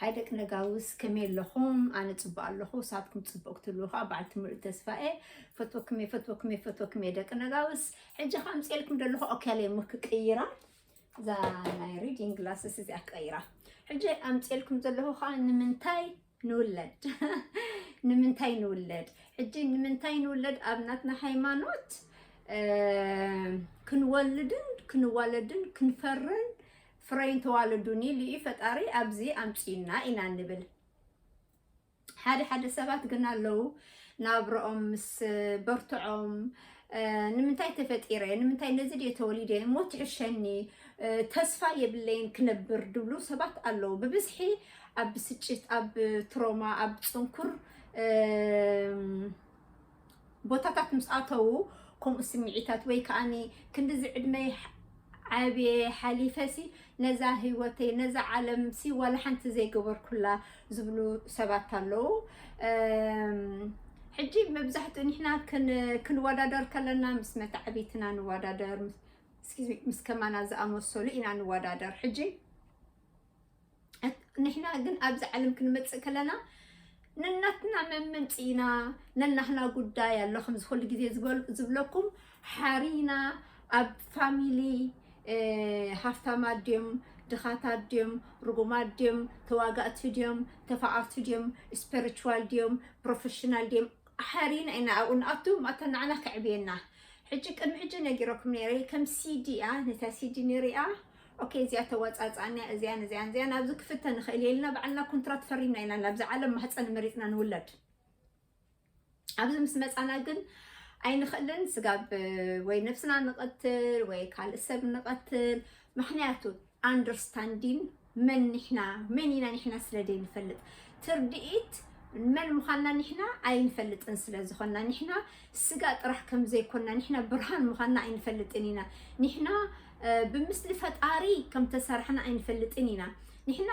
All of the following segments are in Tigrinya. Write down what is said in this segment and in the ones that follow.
ሃይ ደቂ ነጋውስ ከመይ ኣለኹም ኣነ ፅቡቅ ኣለኹ ንስኻትኩም ፅቡቅ ክትብሉ ከዓ በዓልቲ ሙሉእ ተስፋ እየ ፈትወኩም እየ ፈትወኩም እየ ፈትወኩም እየ ደቂ ነጋውስ ሕጂ ከዓ ኣምፅኤልኩም ዘለኹ ኦኬለይ እሞ ክቅይራ እዛ ናይ ሪዲንግ ግላስስ እዚኣ ክቀይራ ሕጂ ኣምፅኤልኩም ዘለኹ ከዓ ንምንታይ ንውለድ ንምንታይ ንውለድ ሕጂ ንምንታይ ንውለድ ኣብ ናትና ሃይማኖት ክንወልድን ክንዋለድን ክንፈርን ፍረይን ተዋለዱን ኢሉ እዩ ፈጣሪ ኣብዚ ኣምፂኡና ኢና ንብል። ሓደ ሓደ ሰባት ግን ኣለዉ ናብረኦም ምስ በርትዖም ንምንታይ ተፈጢረ ንምንታይ ነዚ ድየ ተወሊደ እሞ ትሕሸኒ ተስፋ የብለይን ክነብር ድብሉ ሰባት ኣለዉ ብብዝሒ ኣብ ብስጭት ኣብ ትሮማ ኣብ ፅንኩር ቦታታት ምስ ኣተዉ ከምኡ ስምዒታት ወይ ከዓኒ ክንድዚ ዕድመይ ዓብየ ሓሊፈሲ ነዛ ህይወተይ ነዛ ዓለምሲ ዋላ ሓንቲ ዘይገበርኩላ ዝብሉ ሰባት ኣለዉ ሕጂ መብዛሕትኡ ንሕና ክንወዳደር ከለና ምስ መታዕቢትና ንወዳደር ምስ ከማና ዝኣመሰሉ ኢና ንወዳደር ሕጂ ንሕና ግን ኣብዚ ዓለም ክንመፅእ ከለና ነናትና መመንፅኢና ነናህና ጉዳይ ኣሎ ከምዚ ኩሉ ግዜ ዝብለኩም ሓሪና ኣብ ፋሚሊ ሃፍታማት ድዮም ድኻታት ድዮም ርጉማት ድዮም ተዋጋእቲ ድዮም ተፋቐርቲ ድዮም ስፐሪቹዋል ድዮም ፕሮፌሽናል ድዮም ሓሪና ኢና ኣብኡ ንኣቱ ማእታ ንዓና ከዕብየና ሕጂ ቅድሚ ሕጂ ነጊረኩም ነይረ ከም ሲዲ እያ ነታ ሲዲ ንሪኣ ኦኬ እዚኣ ተዋጻጽኣኒያ እዚያን እዚያን እዚያን ኣብዚ ክፍተ ንኽእል እየ ኢልና ባዕልና ኮንትራት ፈሪምና ኢና ናብዚ ዓለም ማህፀን መሪፅና ንውለድ ኣብዚ ምስ መፃና ግን ኣይንኽእልን ስጋብ ወይ ነብስና ንቐትል ወይ ካልእ ሰብ ንቐትል ምክንያቱ ኣንደርስታንዲን መን ንሕና መን ኢና ንሕና ስለ ዘይንፈልጥ ትርድኢት መን ምዃንና ንሕና ኣይንፈልጥን ስለ ዝኾንና ንሕና ስጋ ጥራሕ ከም ዘይኮና ንሕና ብርሃን ምዃንና ኣይንፈልጥን ኢና። ንሕና ብምስሊ ፈጣሪ ከም ተሰራሕና ኣይንፈልጥን ኢና። ንሕና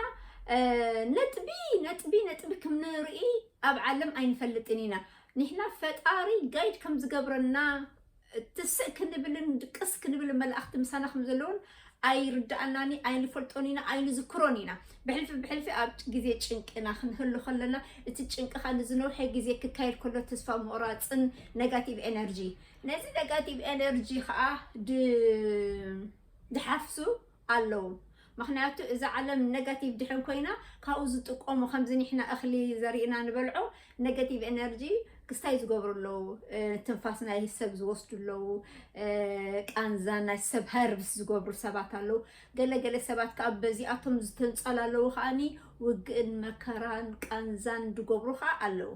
ነጥቢ ነጥቢ ነጥቢ ከም ንርኢ ኣብ ዓለም ኣይንፈልጥን ኢና። ንሕና ፈጣሪ ጋይድ ከም ዝገብረና ትስእ ክንብልን ድቅስ ክንብል መላእኽቲ ምሳና ከም ዘለውን ኣይርድኣናን ኣይንፈልጦን ኢና ኣይንዝክሮን ኢና ብሕልፊ ብሕልፊ ኣብ ግዜ ጭንቅና ክንህሉ ከለና እቲ ጭንቅኻ ንዝነውሐ ግዜ ክካየድ ከሎ ተስፋ ምቑራፅን ነጋቲቭ ኤነርጂ ነዚ ነጋቲቭ ኤነርጂ ከዓ ድሓፍሱ ኣለዉ ምክንያቱ እዛ ዓለም ነጋቲቭ ድሕን ኮይና ካብኡ ዝጥቀሙ ከምዚ ንሕና እኽሊ ዘሪእና ንበልዖ ነገቲቭ ኤነርጂ ክስታይ ዝገብሩ ኣለዉ ትንፋስ ናይ ሰብ ዝወስዱ ኣለዉ ቃንዛ ናይ ሰብ ሀርብስ ዝገብሩ ሰባት ኣለዉ ገለገለ ሰባት ከዓ በዚኣቶም ዝተንፀሉ ኣለዉ ከዓኒ ውግእን መከራን ቃንዛን ዝገብሩ ከዓ ኣለዉ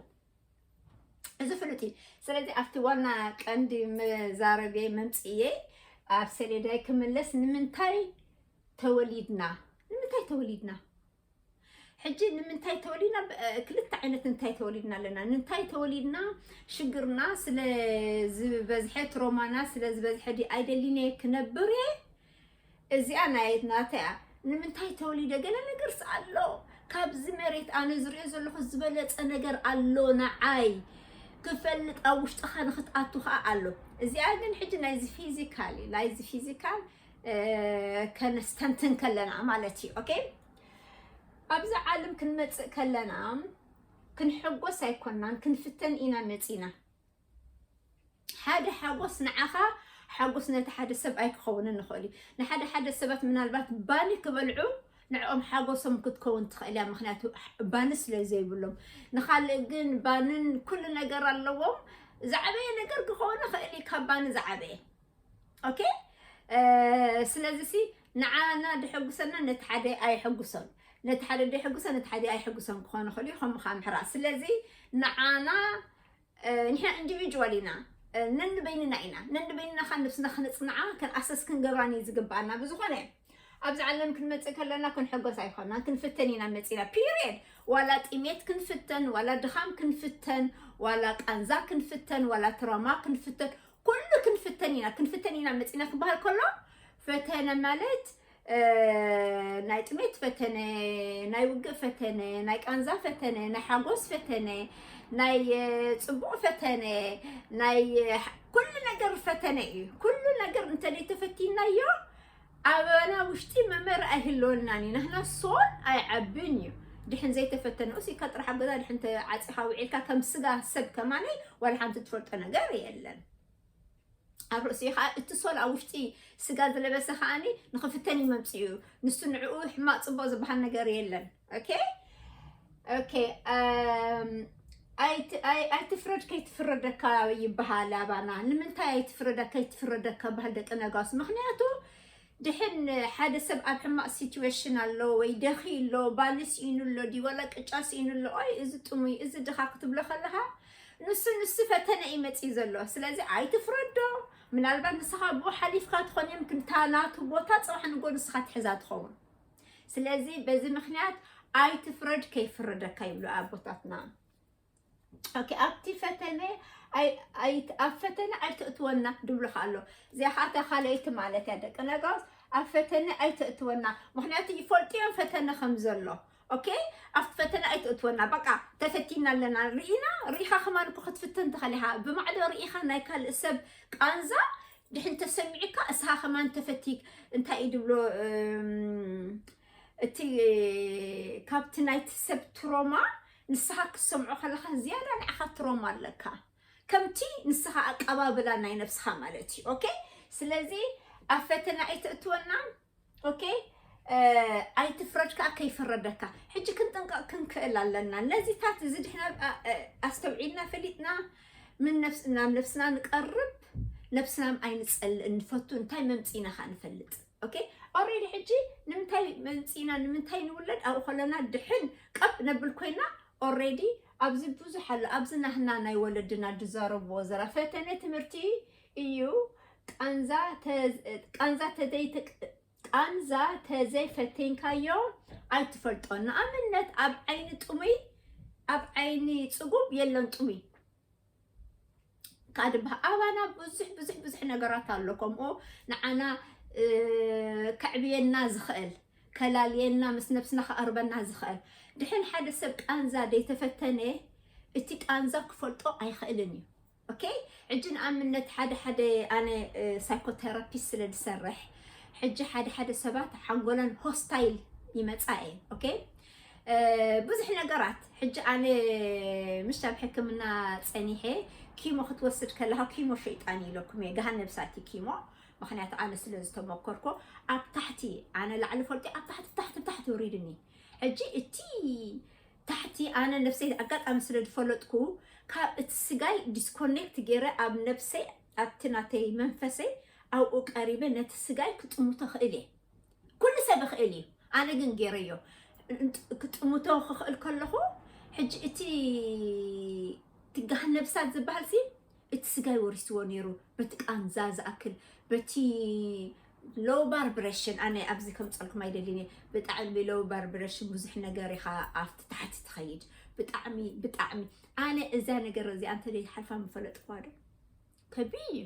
እዚ ፍሉጥ እዩ ስለዚ ኣብቲ ዋና ቀንዲ መዛረቤ መምፅእየ ኣብ ሰሌዳይ ክምለስ ንምንታይ ተወሊድና ንምንታይ ተወሊድና ሕጂ ንምንታይ ተወሊድና ክልተ ዓይነት እንታይ ተወሊድና ኣለና ንንታይ ተወሊድና ሽግርና ስለ ዝበዝሐ ትሮማና ስለ ዝበዝሐ ዲ ኣይደሊነ ክነብር እየ እዚኣ ናይ ናተያ ንምንታይ ተወሊደ ገለ ነገርስ ኣሎ ካብዚ መሬት ኣነ ዝሪኦ ዘለኹ ዝበለፀ ነገር ኣሎ ንዓይ ክፈልጥ ኣብ ውሽጥኻ ንክትኣቱ ከዓ ኣሎ እዚኣ ግን ሕጂ ናይዚ ፊዚካል እዩ ናይዚ ፊዚካል ከነስተንትን ከለና ማለት እዩ ኦኬ ኣብዚ ዓለም ክንመፅእ ከለና ክንሕጎስ ኣይኮናን ክንፍተን ኢና መፂና ሓደ ሓጎስ ንዓኻ ሓጎስ ነቲ ሓደ ሰብ ኣይክኸውንን ንኽእል እዩ ንሓደ ሓደ ሰባት ምናልባት ባኒ ክበልዑ ንዕኦም ሓጎሶም ክትከውን ትኽእል እያ ምክንያቱ ባኒ ስለ ዘይብሎም ንካልእ ግን ባንን ኩሉ ነገር ኣለዎም ዝዓበየ ነገር ክኸውን ይኽእል እዩ ካብ ባኒ ዝዓበየ ኦኬ ስለዚ ሲ ንዓና ደሐጉሰና ነቲ ሓደ ኣይሐጉሶን ነቲ ሓደ ደሐጉሰ ነቲ ሓደ ኣይሐጉሶን ክኾኑ ክእሉ እዩ ከምኡ ከዓ ምሕራ ስለዚ ንዓና ንሕና ኢንዲቪጁዋል ኢና ነንበይንና ኢና ነንበይንና ከዓ ነብስና ክነፅንዓ ክንኣሰስ ክንገብራን እዩ ዝግብኣና ብዝኾነ ኣብዚ ዓለም ክንመፅእ ከለና ክንሕጎስ ኣይኮናን ክንፍተን ኢና መፂና ፒሪየድ ዋላ ጥሜት ክንፍተን ዋላ ድኻም ክንፍተን ዋላ ቃንዛ ክንፍተን ዋላ ትራማ ክንፍተን ኩሉ ክንፍተን ኢና ክንፍተን ኢና መፂና ክበሃል ከሎ ፈተነ ማለት ናይ ጥሜት ፈተነ ናይ ውግእ ፈተነ ናይ ቃንዛ ፈተነ ናይ ሓጎስ ፈተነ ናይ ፅቡቕ ፈተነ ናይ ኩሉ ነገር ፈተነ እዩ ኩሉ ነገር እንተደይ ተፈቲናዮ ኣበና ውሽጢ መምህር ኣይህልወናን እዩ ናህና ሶል ኣይዓብን እዩ ድሕን ዘይተፈተነ ኡስ ኢልካ ጥራሕ ኣብ ገዛ ድሕን ተዓፂኻ ውዒልካ ከም ስጋ ሰብ ከማነይ ዋላ ሓንቲ ትፈልጦ ነገር የለን ኣብ ርእሲኡ ከዓ እቲ ሶል ኣብ ውሽጢ ስጋ ዝለበሰ ከዓኒ ንክፍተን እዩ መምፅኡ ንሱ ንዕኡ ሕማቅ ፅቡቅ ዝበሃል ነገር የለን ኦኬ ኦኬ ኣይትፍረድ ከይትፍረደካ ይበሃል ኣባና ንምንታይ ኣይትፍረዳ ከይትፍረደካ በሃል ደቂ ነጋስ ምክንያቱ ድሕን ሓደ ሰብ ኣብ ሕማቅ ሲትዌሽን ኣሎ ወይ ደኺ ኣሎ ባሊ ስኢኑ ኣሎ ድዩ ዋላ ቅጫ ስኢኑ ኣሎ ኦይ እዚ ጥሙይ እዚ ድኻ ክትብሎ ከለካ ንሱ ንሱ ፈተነ እዩ መፅዩ ዘሎ ስለዚ ኣይትፍረዶ ምናልባት ንስኻ ብኡ ሓሊፍካ ትኾን እዮም ክንታ ናቱ ቦታ ፅባሕ ንጎ ንስኻ ትሕዛ ትኸውን ስለዚ በዚ ምክንያት ኣይትፍረድ ከይፍረደካ ይብሉ ኣቦታትና ኦኬ ኣብቲ ፈተነ ኣብ ፈተነ ኣይትእትወና ድብሉካ ኣሎ ዚኣኻታ ካልኣይቲ ማለት እያ ደቂ ነጋውስ ኣብ ፈተነ ኣይትእትወና ምክንያቱ ይፈልጡ እዮም ፈተነ ከም ዘሎ ኦኬ ኣብቲ ፈተነ ኣይትእትወና በቃ ተፈቲና ኣለና ርኢና ርኢኻ ከማን ክትፍትን ትኸእል ኢኻ ብማዕዶ ርኢኻ ናይ ካልእ ሰብ ቃንዛ ድሕን ተሰሚዕካ እስኻ ከማን ተፈቲክ እንታይ እዩ ድብሎ እቲ ካብቲ ናይቲ ሰብ ትሮማ ንስኻ ክትሰምዖ ከለኻ ዝያዳ ንዓኻ ትሮማ ኣለካ ከምቲ ንስኻ ኣቀባብላ ናይ ነብስኻ ማለት እዩ ኦኬ ስለዚ ኣብ ፈተና ኣይተእትወና ኦኬ ኣይትፍረድ ከዓ ከይፍረደካ ሕጂ ክንጥንቀቕ ክንክእል ኣለና ነዚታት እዚ ድሕና ኣስተውዒልና ፈሊጥና ምን ነፍስ ናብ ነፍስና ንቀርብ ነብስናም ኣይንፀልእን ንፈቱ እንታይ መምፂና ከዓ ንፈልጥ ኦኬ ኦሬዲ ሕጂ ንምንታይ መምፂና ንምንታይ ንውለድ ኣብኡ ከለና ድሕን ቀብ ነብል ኮይና ኦሬዲ ኣብዚ ብዙሕ ኣሎ ኣብዚ ናህና ናይ ወለድና ዝዛረብዎ ዘራ ፈተነ ትምህርቲ እዩ ቃንዛ ቃንዛ ተዘይ ፈቴንካዮ ኣይትፈልጦን ንኣብነት ኣብ ዓይኒ ጥሙይ ኣብ ዓይኒ ፅጉብ የለን ጥሙይ ካድ ኣባና ብዙሕ ብዙሕ ብዙሕ ነገራት ኣሎ ከምኡ ንዓና ከዕብየና ዝኽእል ከላልየና ምስ ነብስና ክቐርበና ዝኽእል ድሕን ሓደ ሰብ ቃንዛ ዘይተፈተነ እቲ ቃንዛ ክፈልጦ ኣይኽእልን እዩ ኦኬ ሕጂ ንኣብነት ሓደ ሓደ ኣነ ሳይኮቴራፒስት ስለ ዝሰርሕ ሕጂ ሓደ ሓደ ሰባት ሓንጎለን ሆስታይል ይመጻ እየ ኦኬ ብዙሕ ነገራት ሕጂ ኣነ ምሽ ኣብ ሕክምና ፀኒሐ ኪሞ ክትወስድ ከለካ ኪሞ ሸይጣን ኢለኩም እየ ገሃን ነብሳት እዩ ኪሞ ምክንያቱ ኣነ ስለ ዝተመኮርኮ ኣብ ታሕቲ ኣነ ላዕሊ ፈልጢ ኣብ ታሕቲ ታሕቲ ታሕቲ ውሪድኒ ሕጂ እቲ ታሕቲ ኣነ ነብሰይ ኣጋጣሚ ስለ ዝፈለጥኩ ካብ እቲ ስጋይ ዲስኮኔክት ገይረ ኣብ ነብሰይ ኣብቲ ናተይ መንፈሰይ ኣብኡ ቀሪበ ነቲ ስጋይ ክጥምቶ ክእል እየ ኩሉ ሰብ ይኽእል እዩ ኣነ ግን ገይረዮ ክጥምቶ ክኽእል ከለኹ ሕጂ እቲ ትጋህ ነብሳት ዝበሃል ሲ እቲ ስጋይ ወሪስዎ ኔሩ በቲ ቃንዛ ዝኣክል በቲ ሎው ባርብረሽን ኣነ ኣብዚ ከምፀልኩም ኣይደልን እየ ብጣዕሚ ሎው ባርብረሽን ብዙሕ ነገር ኢኻ ኣብቲ ታሕቲ ትኸይድ ብጣዕሚ ብጣዕሚ ኣነ እዛ ነገር እዚኣ እንተዘይትሓልፋ ምፈለጥኩዋ ዶ ከቢድ እዩ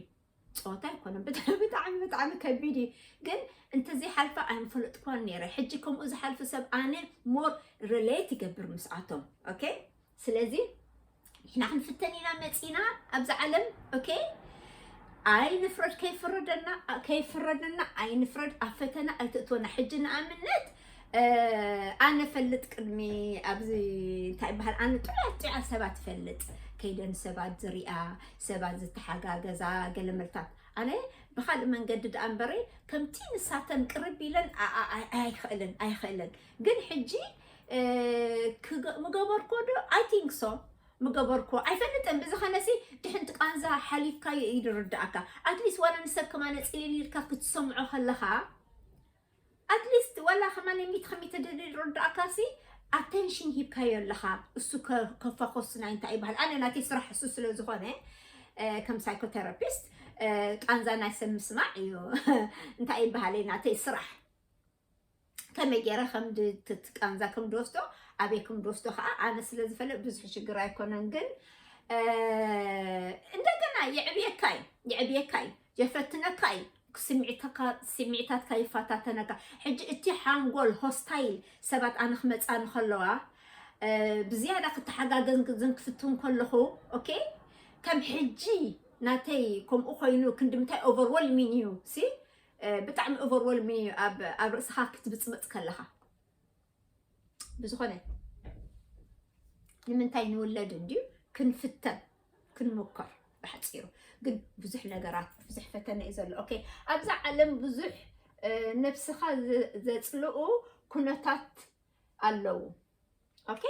ፀወታ ኣይኮነን ብጣዕሚ ብጣዕሚ ብጣዕሚ ከቢድ እዩ ግን እንተዘይሓልፋ ኣይምፈለጥኩዋን ነይረ ሕጂ ከምኡ ዝሓልፍ ሰብ ኣነ ሞር ሪሌት ይገብር ምስኣቶም ኦኬ ስለዚ ንሕና ክንፍተን ኢና መፂና ኣብዚ ዓለም ኦኬ ኣይንፍረድ ከይፍረደና ከይፍረደና ኣይንፍረድ ኣብ ፈተና ኣይትእትወና ሕጂ ንኣብነት ኣነ ፈልጥ ቅድሚ ኣብዚ እንታይ ይበሃል ኣነ ጥዑያት ጥዑያት ሰባት ፈልጥ ከይደን ሰባት ዝሪኣ ሰባት ዝተሓጋገዛ ገለ መልታት ኣነ ብካልእ መንገዲ ድኣ እምበረይ ከምቲ ንሳተን ቅርብ ኢለን ኣይክእልን ኣይክእልን ግን ሕጂ ምገበርኮ ዶ ኣይ ቲንክ ሶ ምገበርኮ ኣይፈልጥን ብዝኸነሲ ድሕንቲ ቃንዛ ሓሊፍካ እዩ ዝርዳእካ ኣትሊስት ዋላ ንሰብ ከማነ ፅልል ኢልካ ክትሰምዖ ከለኻ ኣትሊስት ዋላ ከማነ ሚት ከሚት ዝርዳእካሲ ኣቴንሽን ሂብካዮ ኣለኻ እሱ ከፋኾስ ናይ እንታይ ይበሃል ኣነ ናተይ ስራሕ እሱ ስለ ዝኾነ ከም ሳይኮቴራፒስት ቃንዛ ናይ ሰብ ምስማዕ እዩ እንታይ ይበሃል ናተይ ስራሕ ከመይ ገይረ ከም ቃንዛ ከም ድወስዶ ኣበይ ከም ድወስዶ ከዓ ኣነ ስለ ዝፈለጥ ብዙሕ ሽግር ኣይኮነን ግን እንደገና የዕብየካ እዩ የዕብየካ እዩ የፈትነካ እዩ ስምዒታትካ ይፈታተነካ ሕጂ እቲ ሓንጎል ሆስታይል ሰባት ኣነ ክመፃኒ ከለዋ ብዝያዳ ክተሓጋገዝን ክፍትን ከለኹ ኦኬ ከም ሕጂ ናተይ ከምኡ ኮይኑ ክንዲ ምንታይ ኦቨርወልሚን እዩ ሲ ብጣዕሚ ኦቨርወልሚ ኣብ ኣብ ርእስኻ ክትብጽብጽ ከለኻ ብዝኾነ ንምንታይ ንውለድ እንድዩ ክንፍተን ክንሙከር ብሓፂሩ ግን ብዙሕ ነገራት ብዙሕ ፈተነ እዩ ዘሎ ኦኬ ኣብዛ ዓለም ብዙሕ ነብስኻ ዘፅልኡ ኩነታት ኣለዉ ኦኬ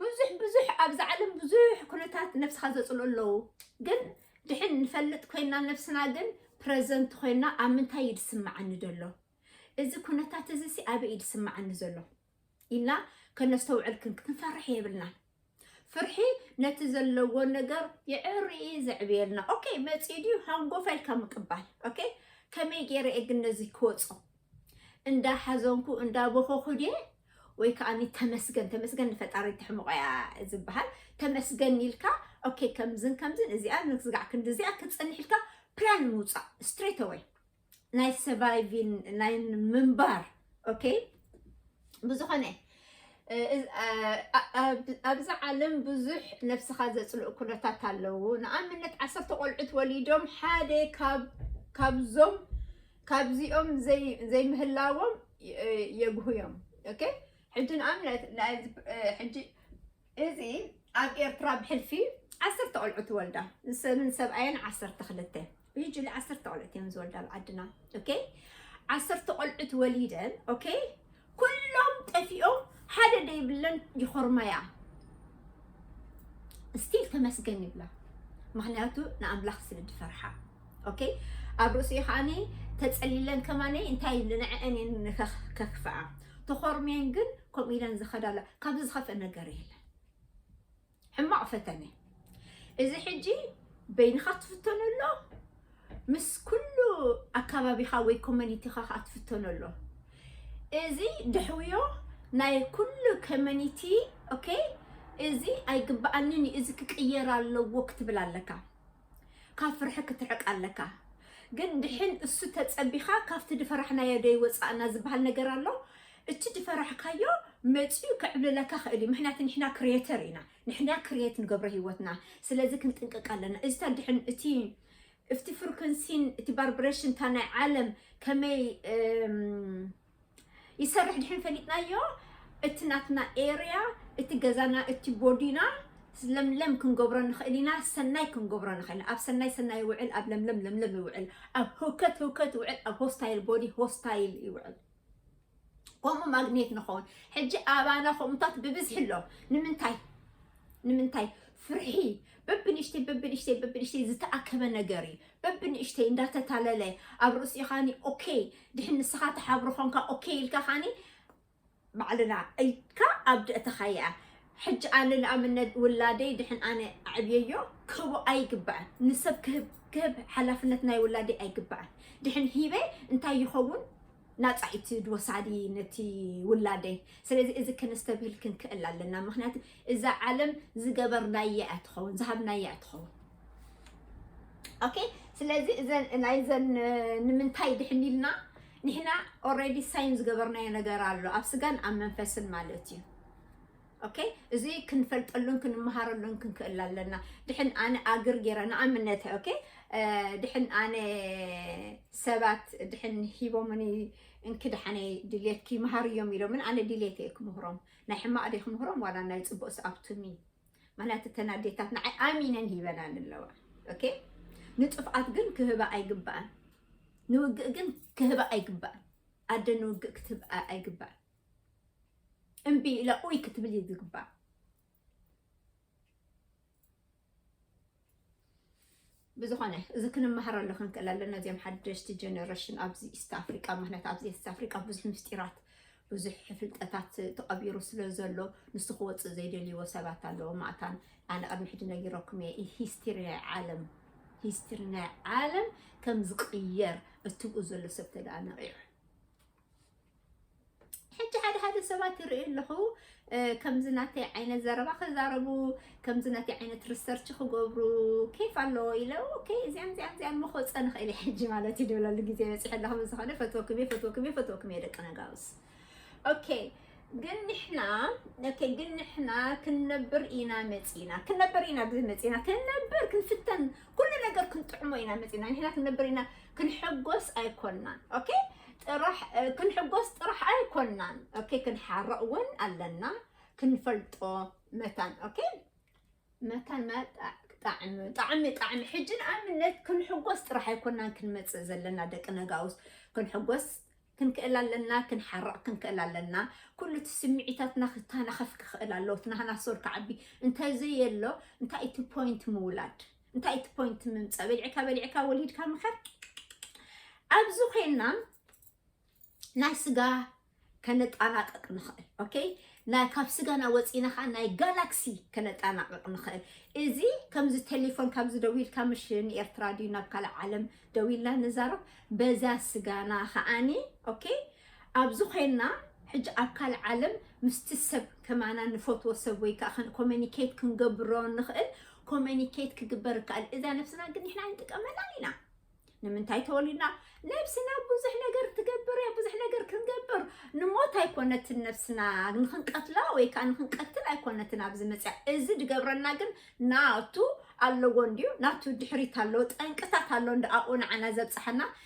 ብዙሕ ብዙሕ ኣብዛ ዓለም ብዙሕ ኩነታት ነብስኻ ዘፅልኡ ኣለዉ ግን ድሕን ንፈልጥ ኮይና ነብስና ግን ፕረዘንት ኮይና ኣብ ምንታይ እዩ ዝስምዓኒ ዘሎ እዚ ኩነታት እዚ ሲ ኣበይ እዩ ዝስምዓኒ ዘሎ ኢልና ከነስተውዕል ክንፈርሕ የብልናን ፍርሒ ነቲ ዘለዎ ነገር ይዕሪ ዘዕብየልና ኦኬ መፂኡ ድዩ ሃንጎፋ ኢልካ ምቅባል ኦኬ ከመይ ገይረ እየ ግን ነዚ ክወፆ እንዳ ሓዘንኩ እንዳ ቦኾኹ ድየ ወይ ከኣኒ ተመስገን ተመስገን ንፈጣሪ ትሕምቆ እያ ዝበሃል ተመስገን ኢልካ ኦኬ ከምዝን ከምዝን እዚኣ ንክዝጋዕ ክንዲዚኣ ክትጸንሕ ኢልካ ፕላን ምውጻእ ስትሬት ኣወይ ናይ ሰቫይቪን ናይ ምንባር ኦኬ ብዝኾነ ኣብዚ ዓለም ብዙሕ ነብስኻ ዘፅልኡ ኩነታት ኣለዉ ንኣብነት ዓሰርተ ቆልዑት ወሊዶም ሓደ ካብዞም ካብዚኦም ዘይምህላዎም የጉህዮም። ሕጂ ንኣብነት እዚ ኣብ ኤርትራ ብሕልፊ ዓሰርተ ቆልዑ ትወልዳ ንሰብን ሰብኣየን ዓሰርተ ክልተ ሕጂ ዓሰርተ ቆልዑት እዮም ዝወልዳ ኣብ ዓድና ዓሰርተ ቆልዑት ወሊደን ኩሎም ጠፊኦም ሓደ ደይብለን ይኾርማያ እስቲል ተመስገን ይብላ ምክንያቱ ንኣምላኽ ስለ ዝፈርሓ ኦኬ ኣብ ርእሲኡ ከዓኒ ተፀሊለን ከማኒ እንታይ ንዐአን እየን ከክፍኣ ተኾርሜን ግን ከምኡ ኢለን ዝኸዳላ ካብዚ ዝኸፍእ ነገር የለን ሕማቕ ፈተነ እዚ ሕጂ በይንኻ ትፍተኖ ኣሎ ምስ ኩሉ ኣካባቢኻ ወይ ኮሚኒቲኻ ከዓ ትፍተኖ ኣሎ እዚ ድሕውዮ ናይ ኩሉ ኮሚኒቲ ኦኬ እዚ ኣይግባኣንን እዩ እዚ ክቅየር ኣለዎ ክትብል ኣለካ ካብ ፍርሒ ክትርሕቅ ኣለካ ግን ድሕን እሱ ተጸቢካ ካብቲ ድፈራሕናዮ ዶ ይወጻእና ዝብሃል ነገር ኣሎ እቲ ድፈራሕካዮ መጽዩ ክዕብልለካ ክእል እዩ ምክንያቱ ንሕና ክሬተር ኢና ንሕና ክሬት ንገብሮ ሂወትና ስለዚ ክንጥንቅቅ ኣለና እዚ ተድሕን እቲ እፍቲ ፍርኩንሲን እቲ ባርብሬሽን እታ ናይ ዓለም ከመይ ይሰርሕ ድሕን ፈሊጥናዮ እቲ ናትና ኤርያ እቲ ገዛና እቲ ቦዲና ለምለም ክንገብሮ ንኽእል ኢና ሰናይ ክንገብሮ ንኽእል ኣብ ሰናይ ሰናይ ይውዕል ኣብ ለምለም ለምለም ይውዕል ኣብ ህውከት ህውከት ይውዕል ኣብ ሆስታይል ቦዲ ሆስታይል ይውዕል ከምኡ ማግኔት ንኸውን ሕጂ ኣባና ከምኡታት ብብዝሒ ኣሎ ንምንታይ ንምንታይ ፍርሒ በብንእሽተይ በብንእሽተይ በብንእሽተይ ዝተኣከበ ነገር እዩ በብንእሽተይ እንዳተታለለ ኣብ ርእሲኡ ካኒ ኦኬይ ድሕን ንስኻ ተሓብሮ ኮንካ ኦኬይ ኢልካ ካኒ ባዕልና ኢልካ ኣብ ደእተኻያ ሕጂ ኣነ ንኣብነት ውላደይ ድሕን ኣነ ኣዕብየዮ ክህቦ ኣይግባእን ንሰብ ክህብ ክህብ ሓላፍነት ናይ ውላደይ ኣይግባእን ድሕን ሂበ እንታይ ይኸውን ናፃ እቲ ድወሳዲ ነቲ ውላደይ ስለዚ እዚ ከነስተብህል ክንክእል ኣለና ምክንያቱ እዛ ዓለም ዝገበርናያ እያ ትኸውን ዝሃብናያ እያ ትኸውን ኦኬ ስለዚ እዘን ናይዘን ንምንታይ ድሕን ኢልና ንሕና ኦልሬዲ ሳይን ዝገበርናዮ ነገር ኣሎ ኣብ ስጋን ኣብ መንፈስን ማለት እዩ ኦኬ እዚ ክንፈልጠሉን ክንመሃረሉን ክንክእል ኣለና ድሕን ኣነ ኣግር ገይረ ንኣብነት ኦኬ ድሕን ኣነ ሰባት ድሕን ሂቦምኒ እንክድሓነ ድሌት ክይምሃር እዮም ኢሎምን ኣነ ድሌት እየ ክምህሮም ናይ ሕማቅ ድየ ክምህሮም ዋላ ናይ ጽቡቅስ ኣብቱኒ ምክንያቱ እተን ኣዴታት ንዓይ ኣሚነን ሂበናኒ ኣለዋ ኦኬ ንጥፍኣት ግን ክህባ ኣይግባኣን ንውግእ ግን ክህባ ኣይግባኣን ኣደ ንውግእ ክትህብ ኣይግባኣን እምቢ ኢላ ኡይ ክትብል እዩ ዝግባእ ብዝኾነ እዚ ክንመሃረሉ ክንክእል ኣለና እዚኦም ሓደሽቲ ጀነሬሽን ኣብዚ ኢስት ኣፍሪቃ ምክንያት ኣብዚ ኢስት ኣፍሪቃ ብዙሕ ምስጢራት ብዙሕ ፍልጠታት ተቐቢሩ ስለ ዘሎ ንሱ ክወፅእ ዘይደልይዎ ሰባት ኣለዎ ማእታን ኣነ ቅድሚ ሕጂ ነጊረኩም እየ ሂስትሪ ናይ ዓለም ሂስትሪ ናይ ዓለም ከም ዝቕየር እትብኡ ዘሎ ሰብ ተደኣ ነቒዑ ሕጂ ሓደ ሓደ ሰባት ይርኢ ኣለኹ ከምዚ ናተይ ዓይነት ዘረባ ክዛረቡ ከምዚ ናተይ ዓይነት ሪሰርች ክገብሩ ኬፍ ኣለዎ ኢለ ኦኬ እዚኣን እዚኣን እዚኣን መኮፀ ንኽእል እየ ሕጂ ማለት እዩ ድብለሉ ግዜ በፂሑ ኣለኹ ብዝኾነ ፈትወኩም እየ ፈትወኩም እየ ፈትወኩም እየ ደቂ ነጋውስ ኦኬ ግን ንሕና ኦኬ ግን ንሕና ክንነብር ኢና መፂና ክንነብር ኢና ብዝመፂና ክንነብር ክንፍተን ኩሉ ነገር ክንጥዕሞ ኢና መፂና ንሕና ክንነብር ኢና ክንሕጎስ ኣይኮናን ኦኬ ጥራሕ ክንሕጎስ ጥራሕ ኣይኮናን ኦኬ ክንሓርቕ እውን ኣለና ክንፈልጦ መታን ኦኬ መታን ማለት ጣዕሚ ጣዕሚ ጣዕሚ ሕጂ ንኣብነት ክንሕጎስ ጥራሕ ኣይኮናን ክንመፅእ ዘለና ደቂ ነጋውስ ክንሕጎስ ክንክእል ኣለና ክንሓርቕ ክንክእል ኣለና ኩሉ እቲ ስምዒታትና ክተናኸፍ ክኽእል ኣለዎ እቲ ናህና ሶር ክዓቢ እንተዘየሎ እንታይ እቲ ፖይንት ምውላድ እንታይ እቲ ፖይንት ምምፃእ በሊዕካ በሊዕካ ወሊድካ ምኸር ኣብዚ ኮይና ናይ ስጋ ከነጣናቅቅ ንኽእል ኦኬ ናይ ካብ ስጋና ወፂና ከዓ ናይ ጋላክሲ ከነጣናቅቅ ንኽእል እዚ ከምዚ ቴሌፎን ካብዚ ደው ኢልካ ምሽ ንኤርትራ ድዩ ናብ ካልእ ዓለም ደው ኢልና ንዛረብ በዛ ስጋና ከዓኒ ኦኬ ኣብዚ ኮይንና ሕጂ ኣብ ካልእ ዓለም ምስቲ ሰብ ከማና ንፈትዎ ሰብ ወይ ከኣ ከን ኮሚኒኬት ክንገብሮ ንኽእል ኮሚኒኬት ክግበር ይከኣል። እዛ ነብስና ግን ንሕና ኣይንጥቀመላን ኢና። ንምንታይ ተወሊድና ነብስና ብዙሕ ነገር ትገብር እያ ብዙሕ ነገር ክንገብር ንሞት ኣይኮነትን ነብስና ንክንቀትላ ወይ ከዓ ንክንቀትል ኣይኮነትን ኣብዚ መፅያ እዚ ድገብረና ግን ናቱ ኣለዎ እንድዩ ናቱ ድሕሪት ኣለዎ ጠንቅታት ኣሎ እንደ ኣብኡ ንዓና ዘብፅሐና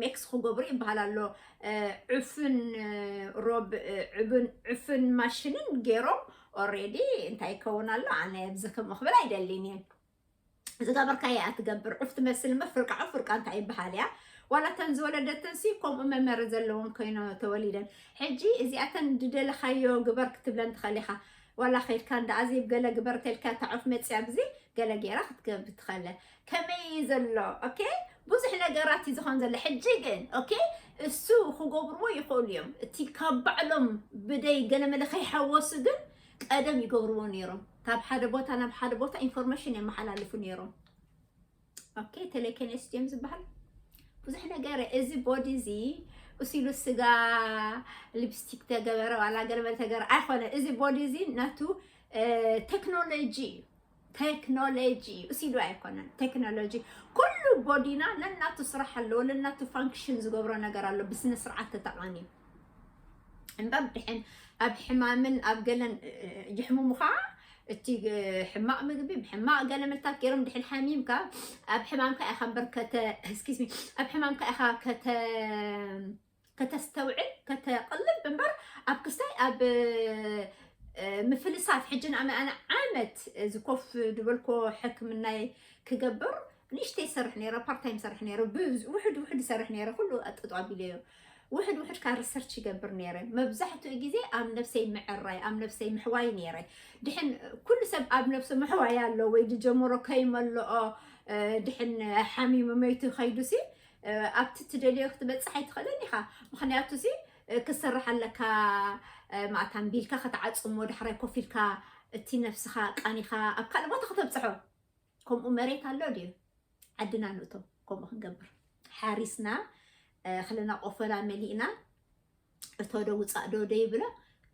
ሜክስ ኽገብሩ ይበሃል ኣሎ ዕፍን ሮብ ዕብን ዕፍን ማሽንን ገይሮም ኦሬዲ እንታይ ይከውን ኣሎ ኣነ ብዚ ከምኡ ክብል ኣይደሊን እየ ዝገበርካዮ እያ ትገብር ዑፍ ትመስል እምበር ፍርቃ ዑፍ ፍርቃ እንታይ ይበሃል እያ ዋላ እተን ዝወለደተን ሲ ከምኡ መመሪ ዘለዎም ኮይኖ ተወሊደን ሕጂ እዚኣተን ድደለኻዮ ግበር ክትብለን ትኸእል ኢኻ ዋላ ከድካ እንዳ ኣዜብ ገለ ግበር ተልካ እታ ዑፍ መፅያ ብዚ ገለ ገይራ ክትገብር ትኸእለ ከመይ እዩ ዘሎ ኦኬ ብዙሕ ነገራት እዩ ዝኾን ዘሎ ሕጂ ግን ኦኬ እሱ ክገብርዎ ይኽእሉ እዮም እቲ ካብ ባዕሎም ብደይ ገለመለ ከይሓወሱ ግን ቀደም ይገብርዎ ነይሮም ካብ ሓደ ቦታ ናብ ሓደ ቦታ ኢንፎርሜሽን የመሓላልፉ ነይሮም ኦኬ ቴሌኬኔስ ድዮም ዝበሃል ብዙሕ ነገር እዚ ቦዲ እዚ እሲሉ ስጋ ሊፕስቲክ ተገበረ ዋላ ገለመለ ተገበረ ኣይኮነ እዚ ቦዲ እዚ ናቱ ቴክኖሎጂ እዩ ቴክኖሎጂ እዩ እሲ ዶ ኣይኮነን ቴክኖሎጂ ኩሉ ቦዲና ነናቱ ስራሕ ኣለዎ ነናቱ ፋንክሽን ዝገብሮ ነገር ኣሎ ብስነ ስርዓት ተጠቐሚ እምበር ድሕን ኣብ ሕማምን ኣብ ገለን ይሕሙሙኻ እቲ ሕማቕ ምግቢ ብሕማቕ ገለ መልታት ገይሮም ድሕን ሓሚምካ ኣብ ሕማምካ ኢኻ እምበር ከተ ስኪዝሚ ኣብ ሕማምካ ኢኻ ከተ ከተስተውዕል ከተቕልብ እምበር ኣብ ክስታይ ኣብ ምፍልሳፍ ሕጂ ንኣመኣነ ዓመት ዝኮፍ ድበልኮ ሕክምናይ ክገብር ንእሽተይ ይሰርሕ ነይረ ፓርታይም ይሰርሕ ነይረ ውሕድ ውሕድ ይሰርሕ ነይረ ኩሉ ኣጥጦ ኣቢለዮ ውሕድ ውሕድ ካብ ሪሰርች ይገብር ነይረ መብዛሕትኡ ግዜ ኣብ ነብሰይ ምዕራይ ኣብ ነብሰይ ምሕዋይ ነይረ ድሕን ኩሉ ሰብ ኣብ ነብሱ ምሕዋይ ኣሎ ወይ ዝጀመሮ ከይመልኦ ድሕን ሓሚሙ መይቱ ከይዱሲ ኣብቲ ትደልዮ ክትበፅሕ ኣይትኽእልን ኢኻ ምክንያቱ ሲ ክትሰርሕ ኣለካ ማእታ ኣንቢልካ ከተዓፅሞ ዳሕራይ ኮፍ ኢልካ እቲ ነፍስኻ ቃኒኻ ኣብ ካልእ ቦታ ከተብፅሖ ከምኡ መሬት ኣሎ ድዩ ዓድና ንእቶ ከምኡ ክንገብር ሓሪስና ክልና ቆፈላ መሊእና እቶ ዶ ውፃእ ዶ ደይብሎ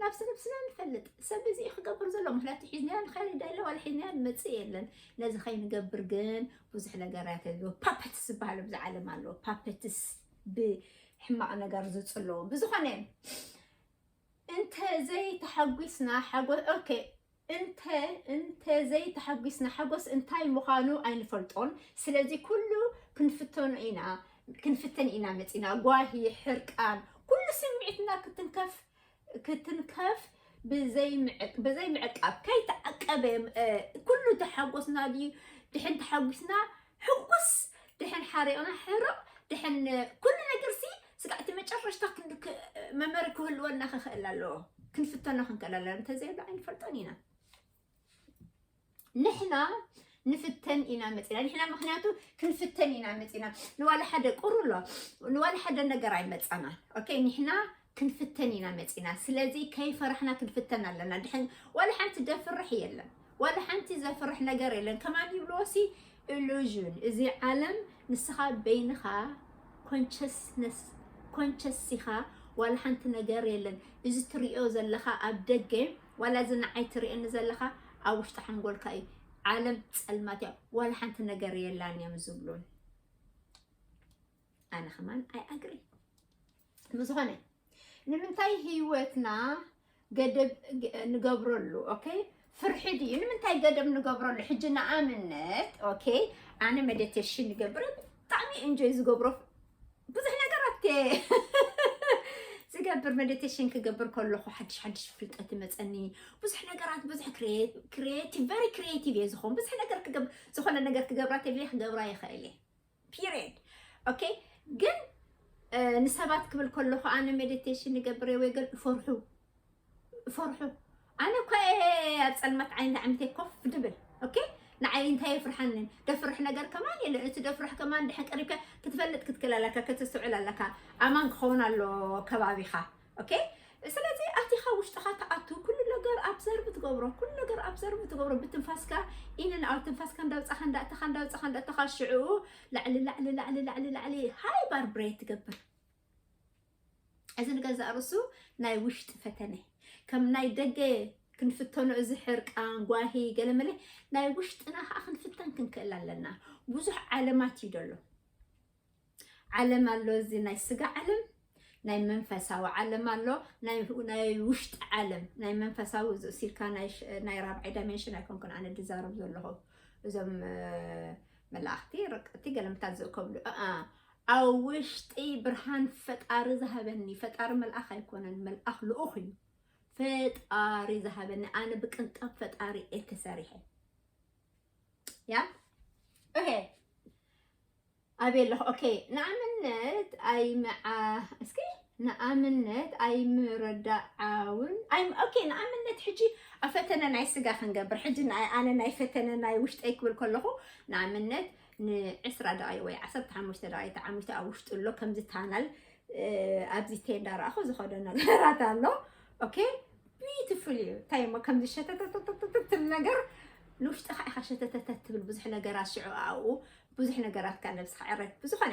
ናብዚ ነብስና ንፈልጥ ሰብ እዚ እዩ ክገብር ዘሎ ምክንያቱ ሒዝናያ ንኸይድ ኣለ ዋላ ሒዝናያ ንመፅእ የለን ነዚ ከይንገብር ግን ብዙሕ ነገራት ኣለዎ ፓፐትስ ዝበሃሉ ብዚ ዓለም ኣለዎ ፓፐትስ ብሕማቕ ነገር ዝፅለዎ ብዝኾነ እንተዘይተሓጒስና ሓጎ ኦኬ እንተ እንተ ዘይ ተሓጒስና ሓጎስ እንታይ ምዃኑ ኣይንፈልጦን ስለዚ ኩሉ ክንፍተኖ ኢና ክንፍተን ኢና መጺና ጓሂ ሕርቃን ኩሉ ስምዒትና ክትንከፍ ክትንከፍ ብዘይ ምዕቃብ ከይተዓቀበ ኩሉ ተሓጎስና ድዩ ድሕን ተሓጒስና ሕጉስ ድሕን ሓሪቕና ሕርቕ ድሕን ኩሉ ነገር ሲ ስጋዕ እቲ መጨረሽታ መመሪ ክህልወና ክኽእል ኣለዎ ክንፍተኖ ክንክእል ኣለና እንተዘይሎ ኣይንፈልጦን ኢና ንሕና ንፍተን ኢና መፂና ንሕና ምክንያቱ ክንፍተን ኢና መፂና ንዋላ ሓደ ቁሩሎ ንዋላ ሓደ ነገር ኣይመፃና ኦኬ ንሕና ክንፍተን ኢና መፂና ስለዚ ከይፈራሕና ክንፍተን ኣለና ድሕን ዋላ ሓንቲ ደፍርሕ የለን ዋላ ሓንቲ ዘፍርሕ ነገር የለን ከማን ይብልዎሲ ኢሉዥን እዚ ዓለም ንስኻ በይንኻ ኮንቸስነስ ኮንቸስ ኢኻ ዋላ ሓንቲ ነገር የለን እዚ ትሪኦ ዘለኻ ኣብ ደገ ዋላ እዚ ንዓይ ትርእየኒ ዘለኻ ኣብ ውሽጢ ሓንጎልካ እዩ ዓለም ፀልማት እያ ዋላ ሓንቲ ነገር የላን እዮም ዝብሉን ኣነ ከማን ኣይ ኣግሪ ብዝኾነ ንምንታይ ህይወትና ገደብ ንገብረሉ ኦኬ ፍርሒ ድዩ ንምንታይ ገደብ ንገብረሉ ሕጂ ንኣብነት ኦኬ ኣነ መዲቴሽን ንገብር ብጣዕሚ እንጆይ ዝገብሮ ብዙሕ ነገራት ዝገብር መዲቴሽን ክገብር ከለኹ ሓድሽ ሓድሽ ፍልጠት ይመፀኒ ብዙሕ ነገራት ብዙሕ ክሪኤቲቭ ቨሪ ክሪኤቲቭ እየ ዝኾን ብዙሕ ነገር ክገብር ዝኾነ ነገር ክገብራ ተልየ ክገብራ ይኽእል እየ ፒሬድ ኦኬ ግን ንሰባት ክብል ከለኹ ኣነ ሜዲቴሽን ንገብር ወይ ገል እፈርሑ እፈርሑ ኣነ እኳ ኣብ ፀልማት ዓይኒ ዓሚተ ኮፍ ድብል ኦኬ ንዓይ እንታይ የፍርሓንን ደፍርሕ ነገር ከማን የለ እቲ ደፍርሕ ከማን ድሕን ቀሪብካ ክትፈልጥ ክትክእል ኣለካ ከተስተውዕል ኣለካ ኣማን ክኸውን ኣሎ ከባቢኻ ኦኬ ስለዚ ኣቲኻ ውሽጥኻ ትኣቱ ኩሉ ነገር ኣብዘርቭ ትገብሮ ኩሉ ነገር ኣብዘርቭ ትገብሮ ብትንፋስካ ኢንን ኣብ ትንፋስካ እንዳውፃኻ እንዳእተኻ እንዳውፃኻ እንዳእተኻ ሽዑ ላዕሊ ላዕሊ ላዕሊ ላዕሊ ላዕሊ ሃይ ባርብሬት ትገብር እዚ ንገዛእ ርእሱ ናይ ውሽጢ ፈተነ ከም ናይ ደገ ክንፍተኖ እዚ ሕርቃን ጓሂ ገለመለ ናይ ውሽጥና ከዓ ክንፍተን ክንክእል ኣለና ብዙሕ ዓለማት እዩ ደሎ ዓለም ኣሎ እዚ ናይ ስጋ ዓለም ናይ መንፈሳዊ ዓለም ኣሎ ናይ ናይ ውሽጢ ዓለም ናይ መንፈሳዊ ዝእሲልካ ናይ ራብዓይ ዳይሜንሽን ኣይኮንኩን ኣነ ድዛረብ ዘለኹ እዞም መላእኽቲ ረቀቲ ገለምታት ዝእከብሉ ኣብ ውሽጢ ብርሃን ፈጣሪ ዝሃበኒ ፈጣሪ መልኣኽ ኣይኮነን መልኣኽ ልኡኽ እዩ ፈጣሪ ዝሃበኒ ኣነ ብቅንጣብ ፈጣሪ እየ ተሰሪሐ ያ ኦሄ ኣበይ ኣለኹ ኦኬ ንኣምነት ኣይምዓ እስኪ ንኣምነት ኣይምርዳዓውን ኣይ ኦኬ ንኣምነት ሕጂ ኣብ ፈተነ ናይ ስጋ ክንገብር ሕጂ ናይ ኣነ ናይ ፈተነ ናይ ውሽጠይ ክብል ከለኹ ንኣምነት ንዕስራ ደቂቕ ወይ ዓሰርተ ሓሙሽተ ደቂቕ ተዓሚቱ ኣብ ውሽጡ ኣሎ ከምዚ ታናል እ፣ ኣብዚ ቴንዳ ረኣኹ ዝኸዶ ነገራት ኣሎ ኦኬ ቢዩቲፉል እዩ እንታይ እሞ ከምዚ ሸተተተተተትል ነገር ንውሽጥኻ ኢኻ ሸተተተት ትብል ብዙሕ ነገራት ሽዑ ኣብኡ ብዙሕ ነገራት ካብ ነብስኻ ዕረፍ ብዝኾነ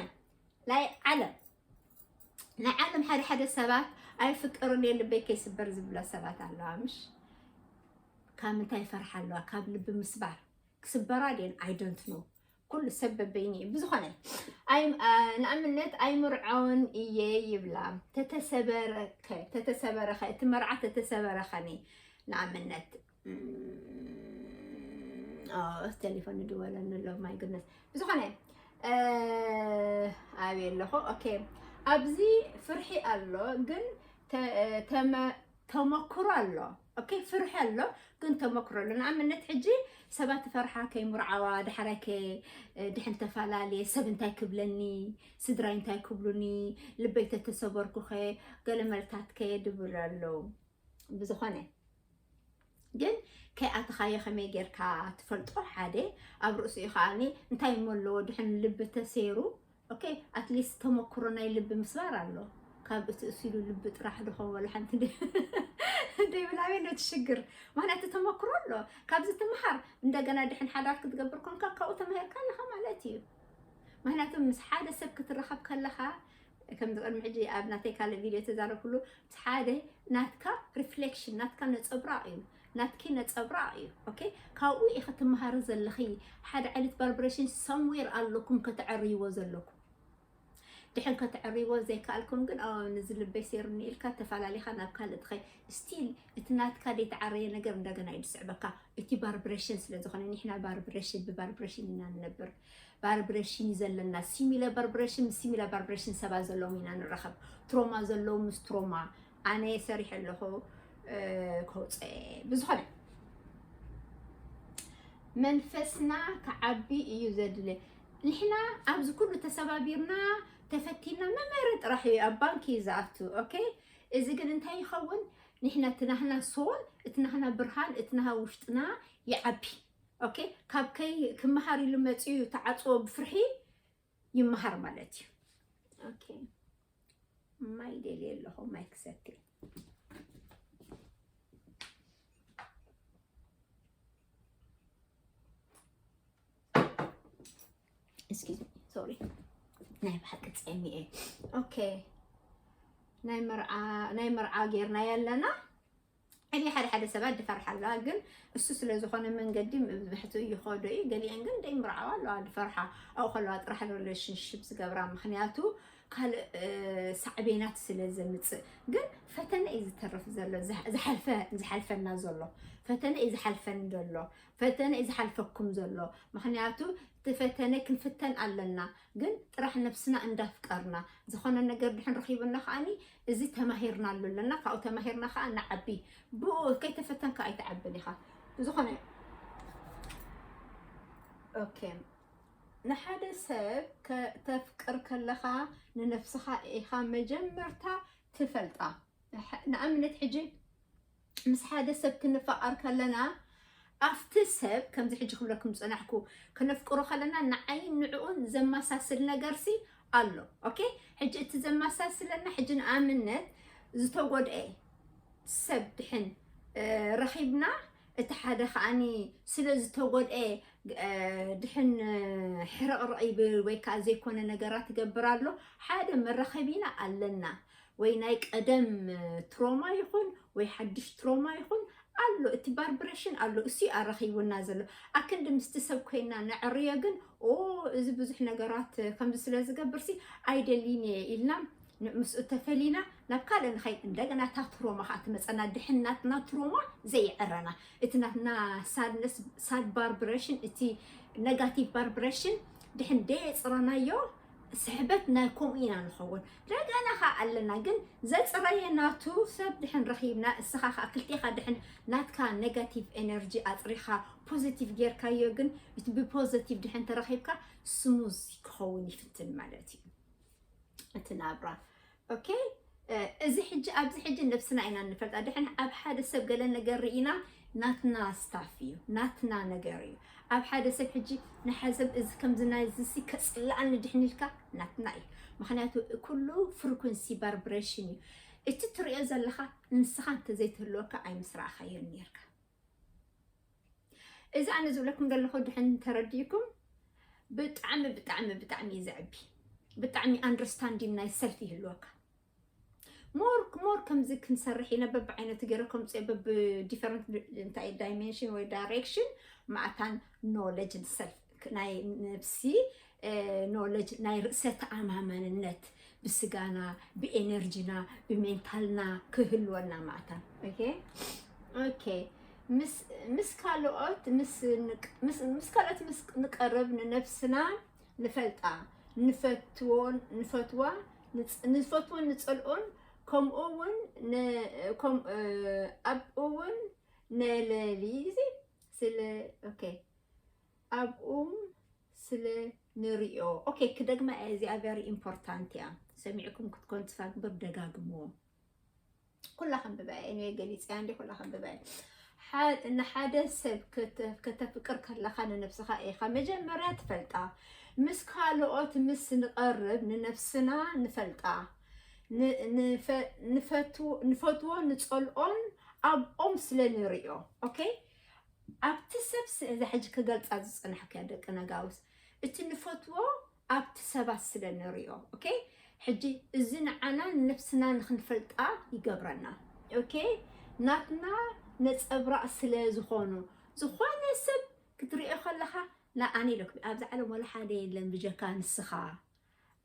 ናይ ዓለም ናይ ዓለም ሓደ ሓደ ሰባት ኣይፍቀሩን እየ ልበይ ከይስበር ዝብላ ሰባት ኣለዋ ምሽ ካብ ምንታይ ይፈርሓ ኣለዋ ካብ ልቢ ምስባር ክስበራ ድን ኣይደንት ኖ ኩሉ ሰብ በበይኒ እዩ ብዝኾነ ንኣብነት ኣይምርዖን እየ ይብላ ተተሰበረኸ እቲ መርዓ ተተሰበረኸኒ ንኣብነት ቴሌፎን ንድወለኒ ኣሎ ማይ ግነት ብዝኾነ ኣብየ ኣለኹ ኦኬ ኣብዚ ፍርሒ ኣሎ ግን ተመክሮ ኣሎ ኦኬ ፍርሒ ኣሎ ግን ተመክሮ ኣሎ ንኣብነት ሕጂ ሰባት ፈርሓ ከይምርዓዋ ዳሕራይ ከ ድሕን ተፈላለየ ሰብ እንታይ ክብለኒ ስድራይ እንታይ ክብሉኒ ልበይ ተተሰበርኩኸ ገለ መልታት ከ ድብል ኣሎ ብዝኾነ ግን ከይኣተኻዮ ከመይ ጌርካ ትፈልጦ ሓደ ኣብ ርእሲኡ ከዓኒ እንታይ እሞ ኣለዎ ድሕን ልቢ ተሰይሩ ኦኬ ኣትሊስት ተመክሮ ናይ ልቢ ምስባር ኣሎ ካብ እቲ እሲሉ ልቢ ጥራሕ ድኾን ወላ ሓንቲ ደይብላዊ ነቲ ሽግር ምክንያቱ ተመክሮ ኣሎ ካብዚ ትምሃር እንደገና ድሕን ሓዳር ክትገብር ኮንካ ካብኡ ተማሂርካ ኣለኻ ማለት እዩ ምክንያቱ ምስ ሓደ ሰብ ክትራኸብ ከለኻ ከምዚ ቅድሚ ሕጂ ኣብ ናተይ ካልእ ቪድዮ ዝተዛረብኩሉ እቲ ሓደ ናትካ ሪፍሌክሽን ናትካ ነጸብራቕ እዩ ናትኪ ነጸብራቕ እዩ ኦኬ ካብኡ ኢኺ ትመሃሪ ዘለኺ ሓደ ዓይነት ቫልብሬሽን ሰምዌር ኣለኩም ከተዕርይዎ ዘለኩም ድሕር ከተዕርይዎ ዘይከኣልኩም ግን ኦ ንዚ ልበይ ሴሩኒ ኢልካ ተፈላለኻ ናብ ካልእ ትኸይ ስቲል እቲ ናትካ ዘይተዓረየ ነገር እንደገና እዩ ዝስዕበካ እቲ ቫርብሬሽን ስለ ዝኾነ ንሕና ቫርብሬሽን ብቫርብሬሽን ኢና ንነብር ቫርብረሽን እዩ ዘለና ሲሚለ ቫርብረሽን ምስ ሲሚለ ቫርብረሽን ሰባት ዘለዎም ኢና ንራኸብ ትሮማ ዘለዎም ምስ ትሮማ ኣነ ሰሪሐ ኣለኹ ከውፀ ብዝኾነ መንፈስና ክዓቢ እዩ ዘድለ ንሕና ኣብዚ ኩሉ ተሰባቢርና ተፈቲና መመረ ጥራሕ እዩ ኣብ ባንኪ እዩ ዝኣቱ ኦኬ እዚ ግን እንታይ ይኸውን ንሕና እቲ ናህና ሶል እቲ ናህና ብርሃን እቲ ናሃ ውሽጥና ይዓቢ ኦኬ ካብ ከይ ክመሃር ኢሉ መፅኡ ተዓፅዎ ብፍርሒ ይመሃር ማለት እዩ ኦኬ ማይ ደልየ ኣለኹ ማይ ክሰቲ እስኪ ሶሪ ናይ ብሓቂ ፀሚ እየ ኦኬ ናይ መርዓ ጌርና ያለና ሕጂ ሓደ ሓደ ሰባት ድፈርሓ ኣለዋ ግን እሱ ስለ ዝኾነ መንገዲ ምብሕቱ ይኸዶ እዩ ገሊኤን ግን ደይምርዓዋ ኣለዋ ድፈርሓ ኣብኡ ከለዋ ጥራሕ ሪሌሽንሽፕ ዝገብራ ምክንያቱ ካልእ ሳዕቤናት ስለ ዘምፅእ ግን ፈተነ እዩ ዝተርፍ ዘሎ ዝሓልፈና ዘሎ ፈተነ እዩ ዝሓልፈን ዘሎ ፈተነ እዩ ዝሓልፈኩም ዘሎ ምክንያቱ እቲ ፈተነ ክንፍተን ኣለና ግን ጥራሕ ነብስና እንዳፍቀርና ዝኾነ ነገር ድሕን ረኪቡና ከዓኒ እዚ ተማሂርናሉ ኣለና ካብኡ ተማሂርና ከዓ ንዓቢ ብኡ ከይተፈተንካ ኣይትዓብን ኢኻ ዝኾነ ኦኬ ንሓደ ሰብ ከተፍቅር ከለኻ ንነፍስኻ ኢኻ መጀመርታ ትፈልጣ ንኣብነት ሕጂ ምስ ሓደ ሰብ ክንፋቀር ከለና ኣብቲ ሰብ ከምዚ ሕጂ ክብለኩም ዝጸናሕኩ ከነፍቅሮ ከለና ንዓይን ንዕኡን ዘመሳስል ነገርሲ ኣሎ ኦኬ ሕጂ እቲ ዘመሳስለና ሕጂ ንኣብነት ዝተጎድኤ ሰብ ድሕን ረኺብና እቲ ሓደ ከዓኒ ስለ ዝተጎድኤ ድሕን ሕርቕርቕ ይብል ወይ ከዓ ዘይኮነ ነገራት ይገብር ኣሎ ሓደ መራኸቢና ኣለና ወይ ናይ ቀደም ትሮማ ይኹን ወይ ሓድሽ ትሮማ ይኹን ኣሎ እቲ ባርብረሽን ኣሎ እሱ እዩ ኣራኺቡና ዘሎ ኣክንዲ ምስቲ ሰብ ኮይና ነዕርዮ ግን ኦ እዚ ብዙሕ ነገራት ከምዚ ስለ ዝገብርሲ ኣይደሊን እየ ኢልና ምስኡ ተፈሊና ናብ ካልእ ንኸይድ እንደገና እታ ትሮማ ከዓ ትመፀና ድሕን ናትና ትሮማ ዘይዕረና እቲ ናትና ሳድነስ ሳድ ባርብረሽን እቲ ነጋቲቭ ባርብረሽን ድሕን ደየፅረናዮ ስሕበት ናይ ከምኡ ኢና ንኸውን ደገና ኸዓ ኣለና ግን ዘፅረየ ናቱ ሰብ ድሕን ረኺብና እስኻ ኸዓ ክልቴኻ ድሕን ናትካ ኔጋቲቭ ኤነርጂ ኣፅሪኻ ፖዘቲቭ ጌርካዮ ግን እቲ ብፖዘቲቭ ድሕን ተረኺብካ ስሙዝ ክኸውን ይፍትን ማለት እዩ እቲ ናብራ ኦኬ እዚ ሕጂ ኣብዚ ሕጂ ነብስና ኢና ንፈልጣ ድሕን ኣብ ሓደ ሰብ ገለ ነገር ርኢና ናትና ስታፍ እዩ ናትና ነገር እዩ ኣብ ሓደ ሰብ ሕጂ ንሓዘብ እዚ ከምዚ ናይ እዚ ከፅላኣኒ ድሕን ኢልካ ናትና እዩ ምክንያቱ ኩሉ ፍሪኩንሲ ባርብሬሽን እዩ እቲ ትሪኦ ዘለካ ንስካ እንተዘይትህልወካ ኣይምስራእካዮ ነርካ እዚ ኣነ ዝብለኩም ዘለኹ ድሕን ተረዲእኩም ብጣዕሚ ብጣዕሚ ብጣዕሚ እዩ ዘዕቢ ብጣዕሚ ኣንደርስታንዲን ናይ ሰልፊ ይህልወካ ሞር ሞር ከምዚ ክንሰርሕ ኢና በብዓይነቱ ገይረ ከምፅኦ በብዲፈረንት እንታይ ዳይሜንሽን ወይ ዳይሬክሽን ማእታን ኖለጅን ሰልፍ ናይ ነብሲ ኖለጅ ናይ ርእሰ ተኣማማንነት ብስጋና ብኤነርጂና ብሜንታልና ክህልወና ማዕታ ኦኬ ምስ ካልኦት ምስ ካልኦት ምስ ንቀርብ ንነብስና ንፈልጣ ንፈትዎን ንፈትዋ ንፈትዎን ንፀልኦን ከምኡ እውን ኣብኡ እውን ነለሊ ስለ ኦኬ ኣብኡም ስለ ንሪኦ ኦኬ ክደግማ እየ እዚኣ ቨሪ ኢምፖርታንት እያ ሰሚዕኩም ክትኮን ትስፋ ግብር ደጋግምዎ ኩላ ከንብባ እየ ኒወይ ገሊፀያ እንዲ ኩላ ከንብባ እየ ሐ- ንሓደ ሰብ ከተ- ከተፍቅር ከለካ ንነብስካ ኢካ መጀመርያ ትፈልጣ ምስ ካልኦት ምስ ንቀርብ ንነብስና ንፈልጣ ን- ንፈ- ንፈትዎ ንፈትዎ ንፀልኦን ኣብኦም ስለ ንሪኦ ኦኬ ኣብቲ ሰብ ስ እዛ ሕጂ ክገልጻ ዝጸናሕኩያ ደቂ ነጋውስ እቲ ንፈትዎ ኣብቲ ሰባት ስለ ንሪኦ ኦኬ ሕጂ እዚ ንዓና ንነብስና ንክንፈልጣ ይገብረና ኦኬ ናትና ነጸብራቅ ስለ ዝኮኑ ዝኮነ ሰብ ክትሪኦ ከለካ ላኣነ ኢለኩም ኣብዛ ዓለም ዋላ ሓደ የለን ብጀካ ንስካ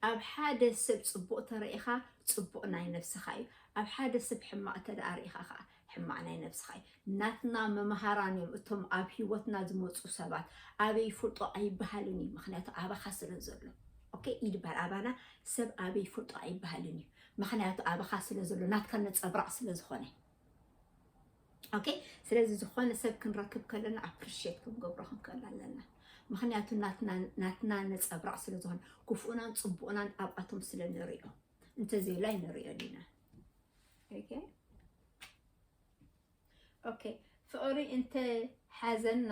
ኣብ ሓደ ሰብ ጽቡቕ ተረኢኻ ጽቡቕ ናይ ነብስኻ እዩ ኣብ ሓደ ሰብ ሕማቕ ተደኣ ርኢኻ ከኣ ሕማቕ ናይ ነብስኻ እዩ ናትና መምሃራን እዮም እቶም ኣብ ሂወትና ዝመጹ ሰባት ኣበይ ይፍልጦ ኣይብሃልን እዩ ምኽንያቱ ኣባኻ ስለ ዘሎ ኦኬ ይድባል ኣባና ሰብ ኣበይ ይፍልጦ ኣይብሃልን እዩ ምኽንያቱ ኣባኻ ስለ ዘሎ ናትካ ነጸብራቕ ስለ ዝኾነ ኦኬ ስለዚ ዝኾነ ሰብ ክንረክብ ከለና ኣፕሪሽት ክንገብሮ ክንክእል ኣለና ምክንያቱ ናትና ነፀብራቅ ስለዝኾነ ክፉኡናን ፅቡኡናን ኣብኣቶም ስለ ንሪኦ እንተዘይላይ ንሪኦ ዲና ኦኬ ፍቅሪ እንተ ሓዘና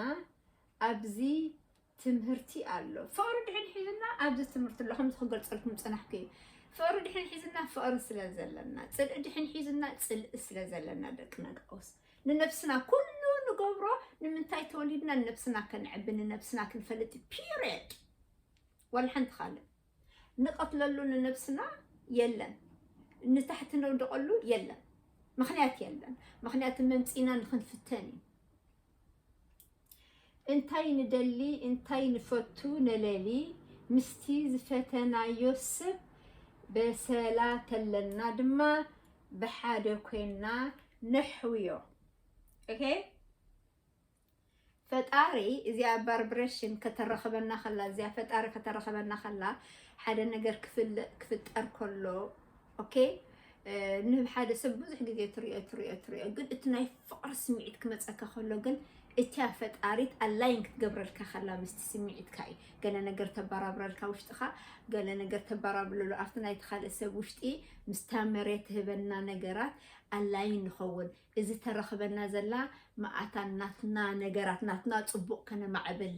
ኣብዚ ትምህርቲ ኣሎ ፍቅሪ ድሕን ሒዝና ኣብዚ ትምህርቲ ኣሎ ከምዚ ክገልፀልኩም ዝፀናሕኩ እዩ ፍቅሪ ድሕን ሒዝና ፍቅሪ ስለ ዘለና ፅልኢ ድሕን ሒዝና ፅልኢ ስለ ዘለና ደቂ ነጋውስ ንነብስና ኩሉ ንገብሮ ንምንታይ ተወሊድና ንነብስና ከነዕቢ ንነብስና ክንፈልጥ ፒሪድ ወላ ሓንቲ ካልእ ንቐትለሉ ንነብስና የለን ንታሕቲ ነውደቐሉ የለን ምክንያት የለን ምክንያት መምፂና ንክንፍተን እዩ እንታይ ንደሊ እንታይ ንፈቱ ነለሊ ምስቲ ዝፈተናዮ ሰብ በሰላ ተለና ድማ ብሓደ ኮይና ነሕውዮ ኦኬ ፈጣሪ እዚኣ ባርብሬሽን ከተረኸበና ከላ እዚኣ ፈጣሪ ከተረኸበና ከላ ሓደ ነገር ክፍጠር ከሎ ኦኬ ንሓደ ሰብ ብዙሕ ግዜ ትሪኦ ትሪኦ ትሪኦ ግን እቲ ናይ ፍቕሪ ስምዒት ክመፀካ ከሎ ግን እቲያ ፈጣሪት ኣላይን ክትገብረልካ ከላ ምስቲ ስምዒትካ እዩ ገለ ነገር ተበራብረልካ ውሽጥኻ ገለ ነገር ተበራብለሉ ኣብቲ ናይቲ ካልእ ሰብ ውሽጢ ምስታ መሬት ትህበና ነገራት ኣላይን ንኸውን እዚ ተረክበና ዘላ መኣታ ናትና ነገራት ናትና ጽቡቅ ከነማዕብል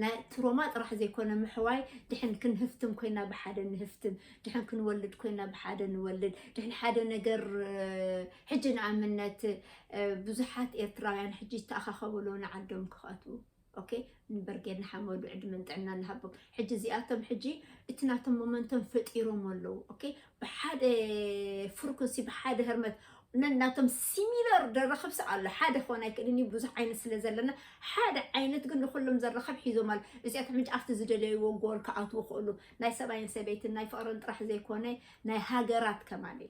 ናይ ትሮማ ጥራሕ ዘይኮነ ምሕዋይ ድሕን ክንህፍትም ኮይና ብሓደ ንህፍትም ድሕን ክንወልድ ኮይና ብሓደ ንወልድ ድሕን ሓደ ነገር ሕጂ ንኣምነት ብዙሓት ኤርትራውያን ሕጂ ይተኣኻኸቡ ኣለዉ ንዓዶም ክኸቱ ኦኬ ንብርጌድ ንሓመዱ ዕድመን ጥዕናን ንሃቦም። ሕጂ እዚኣቶም ሕጂ እቲ ናቶም ሞመንቶም ፈጢሮሞ ኣለዉ ኦኬ ብሓደ ፍርኩንሲ ብሓደ ህርመት ነናቶም ሲሚለር ደረኽብሲ ኣሎ ሓደ ክኾን ኣይክእልን እዩ ብዙሕ ዓይነት ስለ ዘለና ሓደ ዓይነት ግን ንኩሎም ዘረኸብ ሒዞም ኣሎ እዚኣቶም ሕጂ ኣብቲ ዝደለይዎ ጎል ክኣትዉ ክእሉ ናይ ሰብኣይን ሰበይትን ናይ ፍቕርን ጥራሕ ዘይኮነ ናይ ሃገራት ከማን እዩ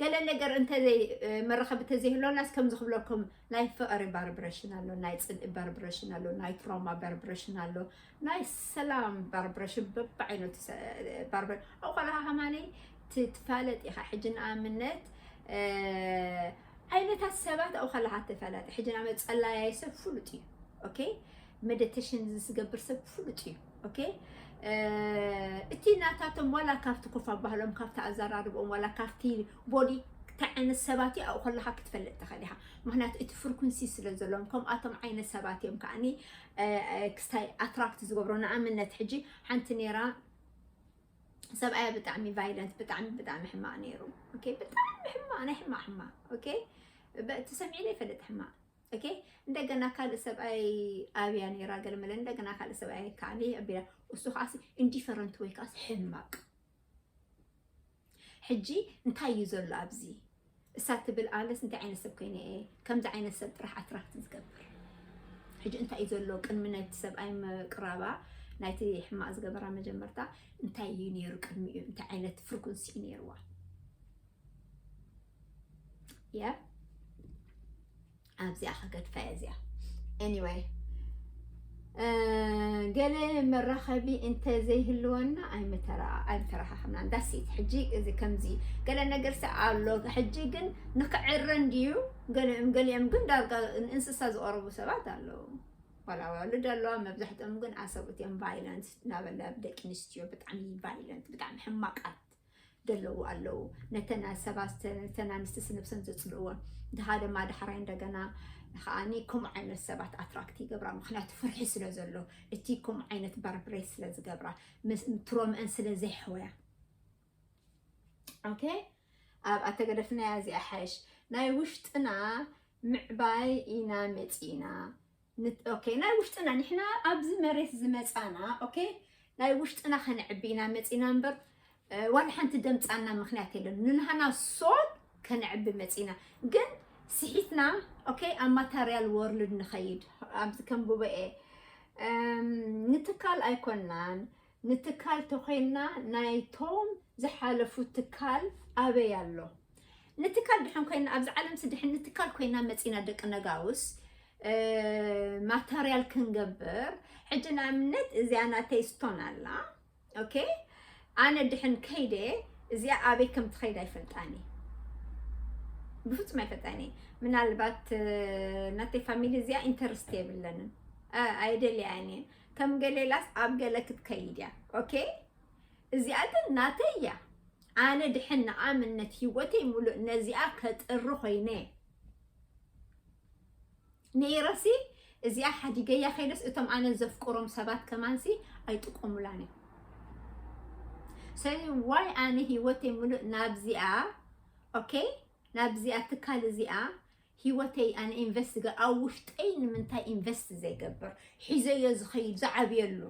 ገለ ነገር እንተ መራኸቢ ተዘይህሎናስ ከምዚ ክብለኩም ናይ ፍቕሪ ባርብረሽን ኣሎ ናይ ፅልኢ ባርብረሽን ኣሎ ናይ ትሮማ ባርብረሽን ኣሎ ናይ ሰላም ባርብረሽን በብዓይነቱ ባርብረ ኣብኡ ከለካ ከማኒ ትፋለጥ ኢኻ ሕጂ ንኣብነት ዓይነታት ሰባት ኣብኡ ከለካ ትፈለጥ ሕጂ ንኣብነት ፀላያይ ሰብ ፍሉጥ እዩ ኦኬ መደተሽን ዝስገብር ሰብ ፍሉጥ እዩ ኦኬ እቲ ናታቶም ዋላ ካብቲ ኮፍ ኣባህሎም ካብቲ ኣዘራርብኦም ዋላ ካብቲ ቦዲ እንታይ ዓይነት ሰባት እዩ ኣብኡ ከለካ ክትፈልጥ ትኽእል ኢኻ ምክንያቱ እቲ ፍርኩንሲ ስለ ዘለዎም ከምኣቶም ዓይነት ሰባት እዮም ከዓኒ ክስታይ ኣትራክት ዝገብሮ ንኣብነት ሕጂ ሓንቲ ነይራ ሰብኣያ ብጣዕሚ ቫይለንት ብጣዕሚ ብጣዕሚ ሕማቅ ነይሩ ብጣዕሚ ሕማቅ ናይ ሕማቅ ሕማቅ ኦኬ እቲ ሰሚዕለ ይፈልጥ ሕማቅ ኦኬ እንደገና ካልእ ሰብኣይ ኣብያ ነይራ ገልመለ እንደገና ካልእ ሰብኣይ ካዕኒ ኣቢላ እሱ ከዓ ኢንዲፈረንት ወይ ከዓ ሕማቅ ሕጂ እንታይ እዩ ዘሎ ኣብዚ እሳ ትብል ኣለስ እንታይ ዓይነት ሰብ ኮይነ እየ ከምዚ ዓይነት ሰብ ጥራሕ ኣትራክት ዝገብር ሕጂ እንታይ እዩ ዘሎ ቅድሚ ናይቲ ሰብኣይ ምቅራባ ናይቲ ሕማቅ ዝገበራ መጀመርታ እንታይ እዩ ነይሩ ቅድሚኡ እንታይ ዓይነት ፍርኩንሲ እዩ ነይርዋ ያ ኣብዚኣ ከገድፋ እየ እዚኣ ኤኒወይ ገለ መራኸቢ እንተዘይህልወና ኣይምተረኻኸብናን ዳሴት ሕጂ እዚ ከምዚ ገለ ነገር ሰ ኣሎ ሕጂ ግን ንክዕረ እንድዩ ገሊኦም ገሊኦም ግን ዳርጋ ንእንስሳ ዝቐረቡ ሰባት ኣለዉ ዋላ ወልድ ኣለዋ መብዛሕትኦም ግን ኣሰብኡት እዮም ቫይለንት እናበለ ደቂ ኣንስትዮ ብጣዕሚ ቫይለንት ብጣዕሚ ሕማቃት ደለዉ ኣለዉ ነተን ሰባት ነተን ኣንስቲ ስነብሰን ዘጽልእወን ድኻ ደማ ዳሕራይ እንደገና ከኣኒ ከምኡ ዓይነት ሰባት ኣትራክት ይገብራ ምክንያቱ ፍርሒ ስለ ዘሎ እቲ ከምኡ ዓይነት ባርብሬት ስለ ዝገብራ ትሮምአን ስለ ዘይሕወያ ኦኬ ኣብ ኣተገደፍናያ እዚኣ ሓይሽ ናይ ውሽጥና ምዕባይ ኢና መጺእና ኦኬ ናይ ውሽጥና ንሕና ኣብዚ መሬት ዝመፃና ኦኬ ናይ ውሽጥና ከነዕቢ ኢና መፂና እምበር ዋላ ሓንቲ ደምፃና ምክንያት የለን ንንሃና ሶል ከነዕቢ መፂና ግን ስሒትና ኦኬ ኣብ ማታርያል ወርልድ ንኸይድ ኣብዚ ከም ጉባኤ ንትካል ኣይኮናን ንትካል ተኮይንና ናይቶም ዝሓለፉ ትካል ኣበይ ኣሎ ንትካል ድሕን ኮይና ኣብዚ ዓለምሲ ድሕን ንትካል ኮይና መፂና ደቂ ነጋውስ ማተርያል ክንገብር ሕጂ ንኣብነት እዚኣ ናተይ ስቶን ኣላ ኦኬ ኣነ ድሕን ከይደ እዚኣ ኣበይ ከም ትኸይድ ኣይፈልጣን እየ ብፍፁም ኣይፈልጣን እየ ምናልባት ናተይ ፋሚሊ እዚኣ ኢንተርስት የብለንን ኣየደልያን እየ ከም ገሌላስ ኣብ ገለ ክትከይድ እያ ኦኬ እዚኣ ግን ናተይ እያ ኣነ ድሕን ንኣምነት ሂወተይ ሙሉእ ነዚኣ ከጥሪ ኮይነ ነይረሲ እዚኣ ሓዲገያ ከይደስ እቶም ኣነ ዘፍቅሮም ሰባት ከማንሲ ኣይጥቆሙላን እዮም ስለዚ ዋይ ኣነ ሂወተይ ሙሉእ ናብዚኣ ኦኬ ናብዚኣ ትካል እዚኣ ሂወተይ ኣነ ኢንቨስት ዝገ ኣብ ውሽጠይ ንምንታይ ኢንቨስት ዘይገብር ሒዘዮ ዝኸይድ ዝዓብየሉ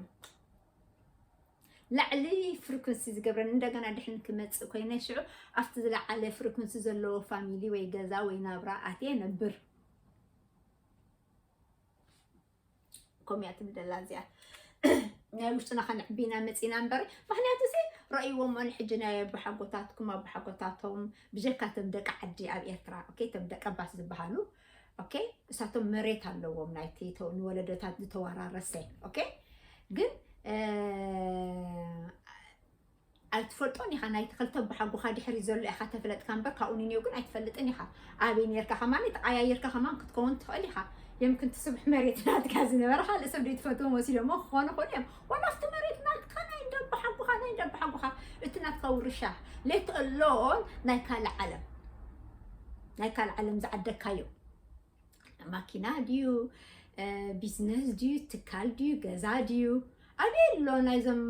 ላዕሊ ፍሪኩንሲ ዝገብረን እንደገና ድሕን ክመፅእ ኮይነ ሽዑ ኣብቲ ዝለዓለ ፍሪኩንሲ ዘለዎ ፋሚሊ ወይ ገዛ ወይ ናብራ ኣትየ ነብር ከምኡ እያ ትብለላ እዚኣ ናይ ውሽጥና ከነዕቢ ኢና መፂና እምበር ምክንያቱ ሲ ረእይዎሞ ንሕጂ ናይ ኣቦሓጎታትኩም ኣቦሓጎታቶም ብጀካ ቶም ደቂ ዓዲ ኣብ ኤርትራ ኦኬ ቶም ደቂ ኣባት ዝበሃሉ ኦኬ እሳቶም መሬት ኣለዎም ናይቲ ተው- ንወለዶታት ዝተወራረሰ ኦኬ ግን እ፣ ኣይትፈልጦን ኢኻ ናይቲ ክልተ ኣቦሓጎኻ ድሕሪ ዘሎ ኢኻ ተፍለጥካ እምበር ካብኡ ንኔው ግን ኣይትፈልጥን ኢኻ ኣበይ ኔርካ ከማን ተቀያይርካ ከማን ክትከውን ትኽእል ኢኻ የምክን ትስብሕ መሬት ናትካ ዝነበረ ካልእ ሰብ ዘይትፈትዎም ወሲዶሞ ክኾኑ ይኽእሉ እዮም ዋላ ኣብቲ መሬት ናትካ ናይ ደቦ ሓጎኻ ናይ ደቦ ሓጎኻ እቲ ናትካ ውርሻ ሌት ኣሎን ናይ ካልእ ዓለም ናይ ካልእ ዓለም ዝዓደካዮ ማኪና ድዩ ቢዝነስ ድዩ ትካል ድዩ ገዛ ድዩ ኣበይ ኣሎ ናይዞም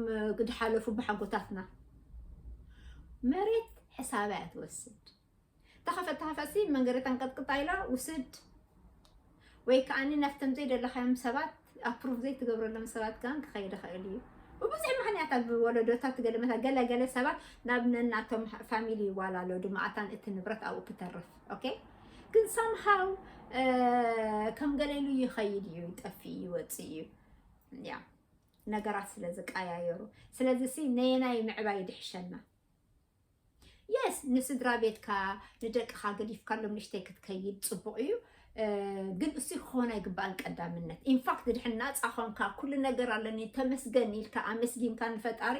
ዝሓለፉ ብሓጎታትና መሬት ሕሳብ እያ ትወስድ ተኸፈት ተኸፈሲ መንገደት ኣንቀጥቅጣ ኢላ ውስድ ወይ ከዓኒ ናፍቶም ዘይደለኻዮም ሰባት ኣፕሩቭ ዘይትገብረሎም ሰባት ከ ክኸይድ ኸእል እዩ ብብዙሕ ምክንያት ኣብ ወለዶታት ገለመታ ገለ ገለ ሰባት ናብ ነናቶም ፋሚሊ ይዋላሎ ድማኣታን እቲ ንብረት ኣብኡ ክተርፍ ኦኬ ግን ሳምሃው ከም ገሌሉ ይኸይድ እዩ ይጠፍእ ይወፅእ እዩ ያ ነገራት ስለ ዝቀያየሩ ስለዚ ሲ ነየናይ ምዕባይ ይድሕሸና የስ ንስድራ ቤትካ ንደቅኻ ገዲፍካሎም ንሽተይ ክትከይድ ፅቡቕ እዩ ግን እሱ ክኾን ኣይግባእን ቀዳምነት ኢንፋክት ድሕን ናፃ ኾንካ ኩሉ ነገር ኣለኒ ተመስገን ኢልካ ኣመስጊንካ ንፈጣሪ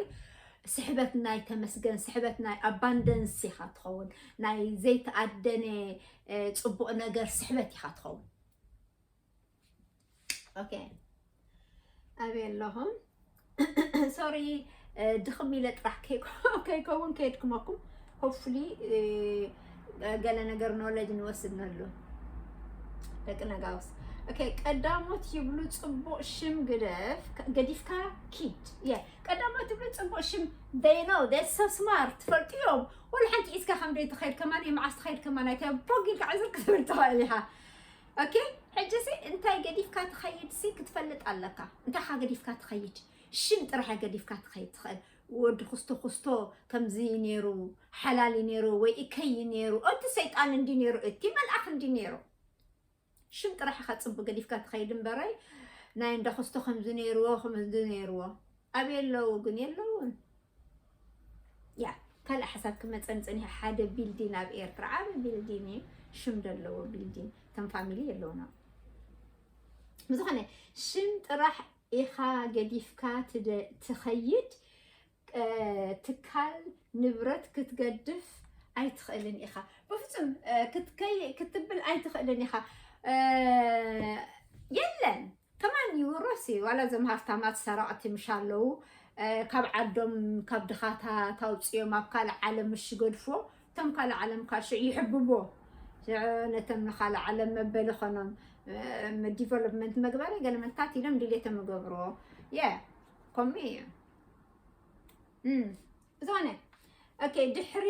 ስሕበት ናይ ተመስገን ስሕበት ናይ ኣባንደንስ ኢኻ ትኸውን ናይ ዘይተኣደነ ፅቡቕ ነገር ስሕበት ኢኻ ትኸውን ኦኬ ኣበይ ኣለኹም? ሶሪ ድኽም ኢለ ጥራሕ ከይከውን ከየድክመኩም ሆፕፉሊ ገለ ነገር ኖለጅ ንወስድ ነሉ ደቂ ነጋውስ ኦኬ ቀዳሞት ይብሉ ፅቡቅ ሽም ግደፍ ገዲፍካ ኪድ የ ቀዳሞት ይብሉ ፅቡቅ ሽም they know they're so smart ትፈልጡ እዮም ወላ ሓንቲ ኢስካ ከም ደይ ትኸይድ ከማን መዓስ ትኸይድ ከማን ኣይተ ቦግ ኢልካ ዕዝር ክትብል ትኽእል ኢኻ ኦኬ ሕጂሲ እንታይ ገዲፍካ ትኸይድሲ ክትፈልጥ ኣለካ እንታይካ ገዲፍካ ትኸይድ ሽም ጥራሕ ገዲፍካ ትኸይድ ትኽእል ወዲ ኩስቶ ኩስቶ ከምዚ ነይሩ ሓላል ነይሩ ወይ እከይ ነይሩ እቲ ሰይጣን እንዲ ነይሩ እቲ መልኣኽ እንዲ ነይሩ ሽም ጥራሕ ኢኻ ፅቡቅ ገዲፍካ ትኸይድ እምበረይ ናይ እንዳ ኩስቶ ከምዚ ነይርዎ ከምዚ ነይርዎ ኣበይ ኣለዉ ግን የለውን ያ ካልእ ሓሳብ ክመፀኒ ፀኒሐ ሓደ ቢልዲን ኣብ ኤርትራ ዓብ ቢልዲን እዩ ሽም ዘለዎ ቢልዲን ከም ፋሚሊ የለውና ብዝኾነ ሽም ጥራሕ ኢኻ ገዲፍካ ትኸይድ ትካል ንብረት ክትገድፍ ኣይትኽእልን ኢኻ ብፍፁም ክትብል ኣይትኽእልን ኢኻ የለን ከማን እዩ ሮሲ እዩ ዋላ እዞም ሃፍታማት ሰረቕቲ ምሽ ኣለዉ ካብ ዓዶም ካብ ድኻታት ኣውፅኦም ኣብ ካልእ ዓለም ምሽ ይገድፎ እቶም ካልእ ዓለም ካብ ሽዕ ይሕብቦ ነቶም ንካልእ ዓለም መበሊ ኾኖም ዲቨሎፕመንት መግበሪ ገለ መታት ኢሎም ድሌቶም ይገብርዎ የ ከምኡ እዩ ዝኾነ ኦኬ ድሕሪ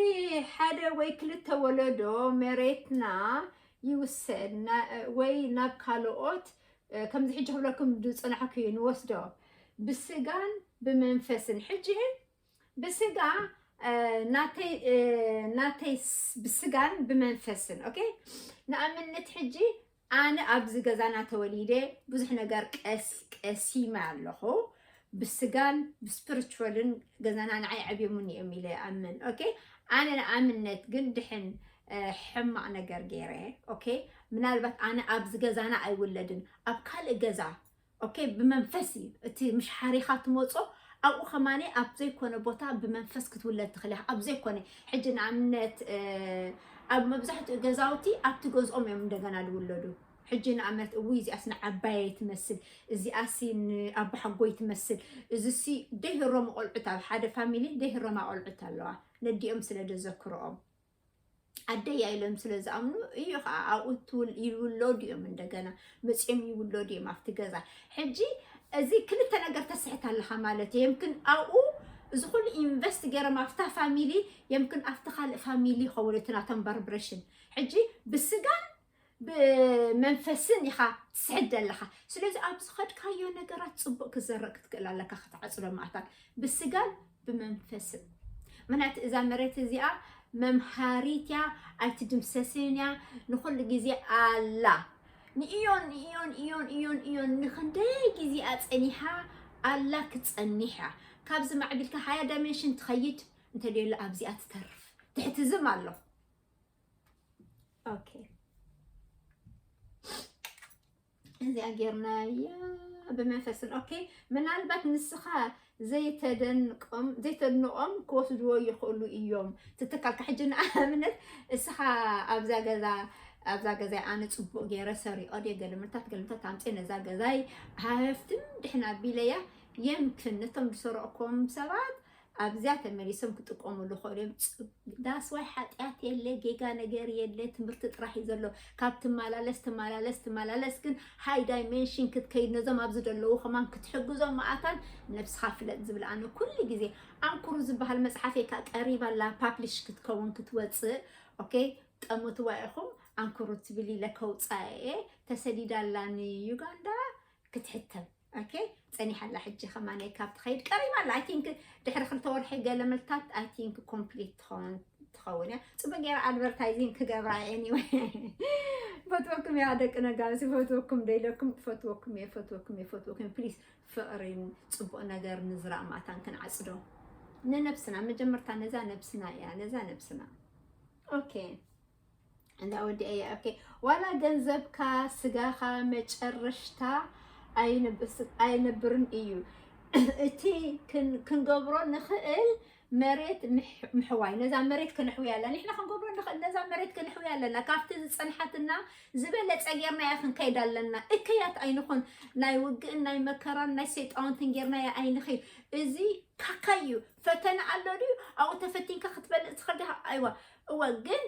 ሓደ ወይ ክልተ ወለዶ መሬትና ይውሰድ ወይ ናብ ካልኦት ከምዚ ሕጂ ክብለኩም ዝጸናሕኩ ንወስዶ ብስጋን ብመንፈስን ሕጂ ብስጋ ናተይ ብስጋን ብመንፈስን ኦኬ ንኣብነት ሕጂ ኣነ ኣብዚ ገዛና ተወሊደ ብዙሕ ነገር ቀሲመ ኣለኹ ብስጋን ብስፕርቹዋልን ገዛና ንዓይ ዓብዮሙኒ እዮም ኢለ ይኣምን ኦኬ ኣነ ንኣብነት ግን ድሕን ሕማቕ ነገር ገይረ ኦኬ ምናልባት ኣነ ኣብዚ ገዛና ኣይውለድን ኣብ ካልእ ገዛ ኦኬ ብመንፈስ እዩ እቲ ምሽ ሓሪኻ ትመፆ ኣብኡ ከማነ ኣብ ዘይኮነ ቦታ ብመንፈስ ክትውለድ ትኽእል ኣብ ዘይኮነ ሕጂ ንኣብነት ኣብ መብዛሕትኡ ገዛውቲ ኣብቲ ገዝኦም እዮም እንደገና ዝውለዱ ሕጂ ንኣመት እውይ እዚኣስ ንዓባየይ ትመስል እዚኣሲ ንኣቦሓጎይ ትመስል እዚሲ ደይህሮም ቆልዑት ኣብ ሓደ ፋሚሊ ደይህሮማ ቆልዑት ኣለዋ ነዲኦም ስለ ደዘክርኦም ኣደያ ኢሎም ስለ ዝኣምኑ እዩ ከዓ ኣብኡ ይውለዱ እዮም እንደገና መፅኦም ይውለዱ እዮም ኣብቲ ገዛ ሕጂ እዚ ክልተ ነገር ተስሕት ኣለካ ማለት እዩ የምክን ኣብኡ እዚ ኩሉ ኢንቨስት ገይሮም ኣብታ ፋሚሊ የምክን ኣብቲ ካልእ ፋሚሊ ይኸውን እቲ ናቶም በርብሬሽን ሕጂ ብስጋን ብመንፈስን ኢኻ ትስሕድ ዘለኻ ስለዚ ኣብ ዝኸድካዮ ነገራት ፅቡቅ ክዘረእ ክትክእል ኣለካ ክትዓፅዶ ማእታት ብስጋን ብመንፈስን ምክንያቱ እዛ መሬት እዚኣ መምሃሪት እያ ኣይትድምሰስን እያ ንኩሉ ግዜ ኣላ ንእዮን እዮን እዮን እዮን እዮን ንክንደይ ግዜኣ ፀኒሓ ኣላ ክፀኒሕ እያ ካብዚ ማዕቢልካ ሃያ ዳይሜንሽን ትኸይድ እንተደየሎ ኣብዚኣ ትተርፍ ትሕትዝም ኣለኹ ኦኬ እዚኣ ጌርናያ ብመንፈስን ኦኬ ምናልባት ንስኻ ዘይተደንቆም ዘይተድንቆም ክወስድዎ ይኽእሉ እዮም ትትካልካ ሕጂ ንኣብነት እስኻ ኣብዛ ገዛ ኣብዛ ገዛይ ኣነ ፅቡቅ ገይረ ሰሪቆ ድየ ገልምታት ገልምታት ኣምፅየ ነዛ ገዛይ ሃፍትም ድሕና ኣቢለያ የምክን ነቶም ዝሰረቕኩም ሰባት ኣብዚያ ተመሊሶም ክጥቀሙሉ ይኽእሉ እዮም። ጽ- ዳስዋይ ሓጢኣት የለ ጌጋ ነገር የለ ትምህርቲ ጥራሕ እዩ ዘሎ ካብ ትመላለስ ትመላለስ ትመላለስ ግን ሃይ ዳይሜንሽን ክትከይድ ነዞም ኣብዚ ዘለዉ ከማን ክትሕግዞም መኣታን ነብስኻ ፍለጥ ዝብል ኣነ ኩሉ ግዜ ኣንኩሩ ዝበሃል መፅሓፍ እየ ከዓ ቀሪባ ኣላ ፓብሊሽ ክትከውን ክትወፅእ ኦኬ ጠሙትዋ ኢኹም ኣንኩሩ ትብል ኢለ ከውፃ እየ ተሰዲዳ ኣላ ንዩጋንዳ ክትሕተም ኦኬ ጸኒሓ ኣላ ሕጂ ከማን ካብ ትኸይድ ቀሪባ ኣላ ኣይ ቲንክ ድሕሪ ክልተ ወርሒ ገለ መልታት ኣይ ቲንክ ኮምፕሊት ትኸውን ትኸውን እያ ፅቡቅ ገይረ ኣድቨርታይዚንግ ክገብራ ኤኒወይ ፈትወኩም እያ ደቂ ነጋሲ ፈትወኩም ደይለኩም ፈትወኩም እየ ፈትወኩም እየ ፈትወኩም ፕሊስ ፍቅሪን ፅቡቅ ነገር ንዝራእ ማታን ክንዓፅዶ ንነብስና መጀመርታ ነዛ ነብስና እያ ነዛ ነብስና ኦኬ እንዳ ወዲ ኣያ ኦኬ ዋላ ገንዘብካ ስጋኻ መጨረሽታ ኣይነብርን እዩ እቲ ክንገብሮ ንኽእል መሬት ምሕዋይ ነዛ መሬት ክንሕውያ ኣለና ንሕና ክንገብሮ ንኽእል ነዛ መሬት ክንሕውያ ኣለና ካብቲ ዝፀንሓትና ዝበለፀ ጌርና እያ ክንከይድ ኣለና እከያት ኣይንኹን ናይ ውግእን ናይ መከራን ናይ ሰይጣውንትን ጌርና እያ ኣይንኽይድ እዚ ካካ እዩ ፈተና ኣሎ ድዩ ኣብኡ ተፈቲንካ ክትበልፅ ትኽእል ዲኻ ኣይዋ እወ ግን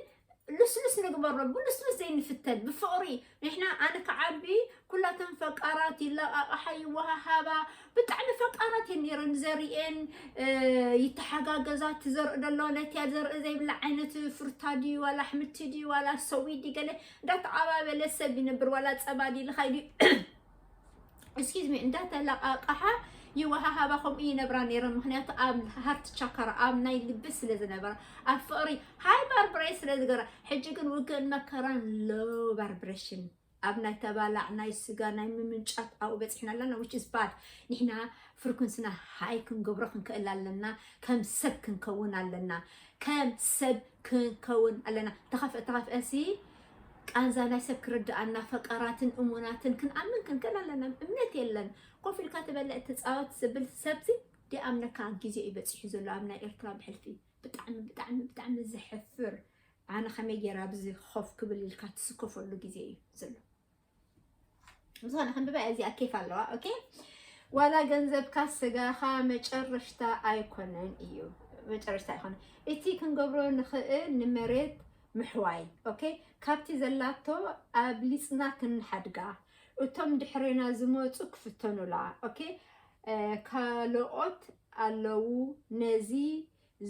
ልስልስ ንግበሮ ብልስልስ ዘይንፍተን ብፍቕሪ ንሕና ኣነ ክዓቢ ኩላተን ፈቃራት ይለቃቕሓ ይወሃሃባ ብጣዕሚ ፈቃራት እየን ነይረን ዘርእየን ይተሓጋገዛ እቲ ዘርኢ ደሎ ነቲያ ዘርኢ ዘይብላ ዓይነት ፍርታ ድዩ ዋላ ኣሕምልቲ ድዩ ዋላ ሰዊ ድዩ ገለ እንዳተዓባበለ ሰብ ይነብር ዋላ ፀባ ድዩ ልኻይ ድዩ እስኪዝ ሚ እንዳተለቃቃሓ ይወሃሃባ ከምኡ ይነብራ ነይረን ምክንያቱ ኣብ ሃርት ቻካራ ኣብ ናይ ልቢ ስለ ዝነበራ ኣብ ፍቅሪ ሃይ ባርብሬ ስለ ዝገራ ሕጂ ግን ውግእን መከራን ሎ ባርብሬሽን ኣብ ናይ ተባላዕ ናይ ስጋ ናይ ምምንጫት ኣብኡ በፂሕና ኣለና ዊች ኢዝ ባድ ንሕና ፍርኩንስና ሃይ ክንገብሮ ክንክእል ኣለና ከም ሰብ ክንከውን ኣለና ከም ሰብ ክንከውን ኣለና ተኸፍአ ተኸፍአ ሲ ቃንዛ ናይ ሰብ ክርድኣና ፈቃራትን እሙናትን ክንኣምን ክንክእል ኣለና እምነት የለን ኮፍ ኢልካ ትበልዕ ትጻወት ዝብል ሰብሲ ደይኣምነካ ግዜ እዩ በጺሑ ዘሎ ኣብ ናይ ኤርትራ ብሕልፊ ብጣዕሚ ብጣዕሚ ብጣዕሚ ዘሕፍር ኣነ ከመይ ገይረ ኣብዚ ኮፍ ክብል ኢልካ ትስከፈሉ ግዜ እዩ ዘሎ ምሳና ክንብባ እዚኣ ኬፍ ኣለዋ ኦኬ ዋላ ገንዘብካ ስጋኻ መጨረሽታ ኣይኮነን እዩ መጨረሽታ ኣይኮነ እቲ ክንገብሮ ንኽእል ንመሬት ምሕዋይ ኦኬ ካብቲ ዘላቶ ኣብሊፅና ክንሓድጋ እቶም ድሕሬና ዝመፁ ክፍተኑላ ኦኬ ካልኦት ኣለዉ ነዚ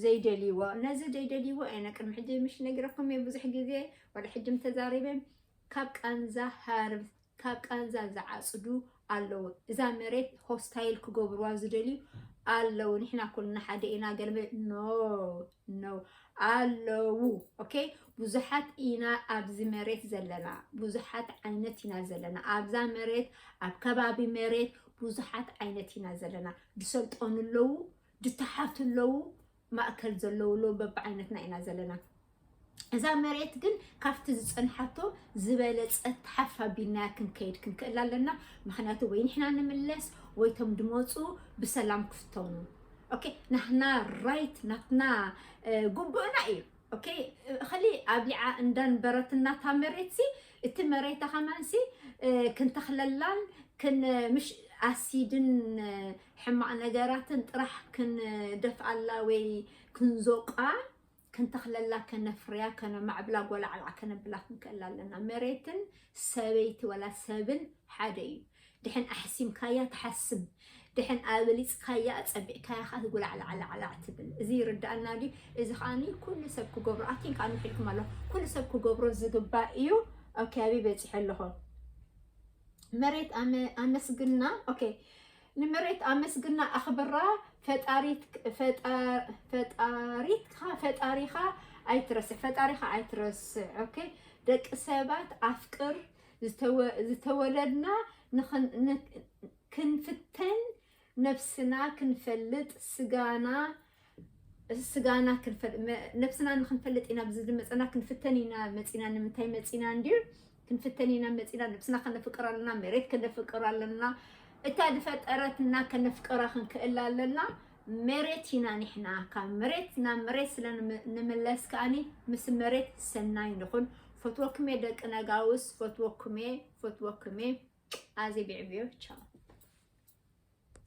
ዘይደልይዎ ነዚ ዘይደልይዎ እየ ነ ቅድሚ ሕጂ ምሽ ነጊረኩም እየ ብዙሕ ግዜ ዋላ ሕጂም ተዛሪበ ካብ ቃንዛ ሃርብ ካብ ቃንዛ ዝዓጽዱ ኣለዉ እዛ መሬት ሆስታይል ክገብርዋ ዝደልዩ ኣለዉ ንሕና ኩልና ሓደ ኢና ገልበ ኖ ኖ ኣለዉ ኦኬ ብዙሓት ኢና ኣብዚ መሬት ዘለና ብዙሓት ዓይነት ኢና ዘለና ኣብዛ መሬት ኣብ ከባቢ መሬት ብዙሓት ዓይነት ኢና ዘለና ዝሰልጠኑ ኣለዉ ድታሓቱ ኣለዉ ማእከል ዘለዉ ኣለዉ በብዓይነትና ኢና ዘለና እዛ መሬት ግን ካብቲ ዝፀንሓቶ ዝበለፀት ተሓፍ ኣቢልናያ ክንከይድ ክንክእል ኣለና ምክንያቱ ወይ ንሕና ንምለስ ወይቶም ድመፁ ብሰላም ክፍተኑ ኦኬ ናትና ራይት ናትና ጉቡእና እዩ ኦኬ እኸሊ ኣብሊዓ እንዳንበረትና እታ መሬት ሲ እቲ መሬታ ከማን ሲ ክንተኽለላን ክንምሽ ኣሲድን ሕማቕ ነገራትን ጥራሕ ክንደፍኣላ ወይ ክንዞቃ፣ ክንተኽለላ፣ ከነፍርያ፣ ከነማዕብላ፣ ጎላዕላዕ ከነብላ ክንክእል ኣለና። መሬትን ሰበይቲ ወላ ሰብን ሓደ እዩ። ድሕን ኣሕሲምካያ ትሓስም፣ ድሕን ኣብሊጽካያ ኣጸቢቕካያ ከኣ ትጉላዕላዕላዕላዕ ትብል። እዚ ይርድኣና ድዩ? እዚ ከኣ ኩሉ ሰብ ክገብሮ ኣቲን ከኣ ምሒልኩም ኣለኹ ኩሉ ሰብ ክገብሮ ዝግባእ እዩ። ኦኬ ኣበይ በጺሐ ኣለኹ? መሬት ኣመ ኣመስግና ኦኬ ንመሬት ኣመስግና ኣኽብራ ፈጣሪት ፈጣር ፈጣሪትካ ፈጣሪኻ ኣይትረስዕ ፈጣሪኻ ኣይትረስዕ ኦኬ ደቂ ሰባት ኣፍቅር ዝተወ ዝተወለድና ንኽን ን ክንፍተን ነብስና ክንፈልጥ ስጋና ስጋና ክንፈል ነብስና ንክንፈልጥ ኢና ብዚ ዝመፀና ክንፍተን ኢና መፂና ንምንታይ መፂና እንድዩ ክንፍተን ኢና መፂና ነብስና ከነፍቅር ኣለና መሬት ከነፍቅር ኣለና እታ ዝፈጠረትና ከነፍቅራ ክንክእል ኣለና መሬት ኢና ንሕና ካብ መሬት ናብ መሬት ስለ ንምለስ ከዓኒ ምስ መሬት ሰናይ ንኹን ፈትወኩም እየ ደቂ ነጋውስ ፈትወኩም እየ ፈትወኩም እየ ኣዜ ቢዕብዮ ቻው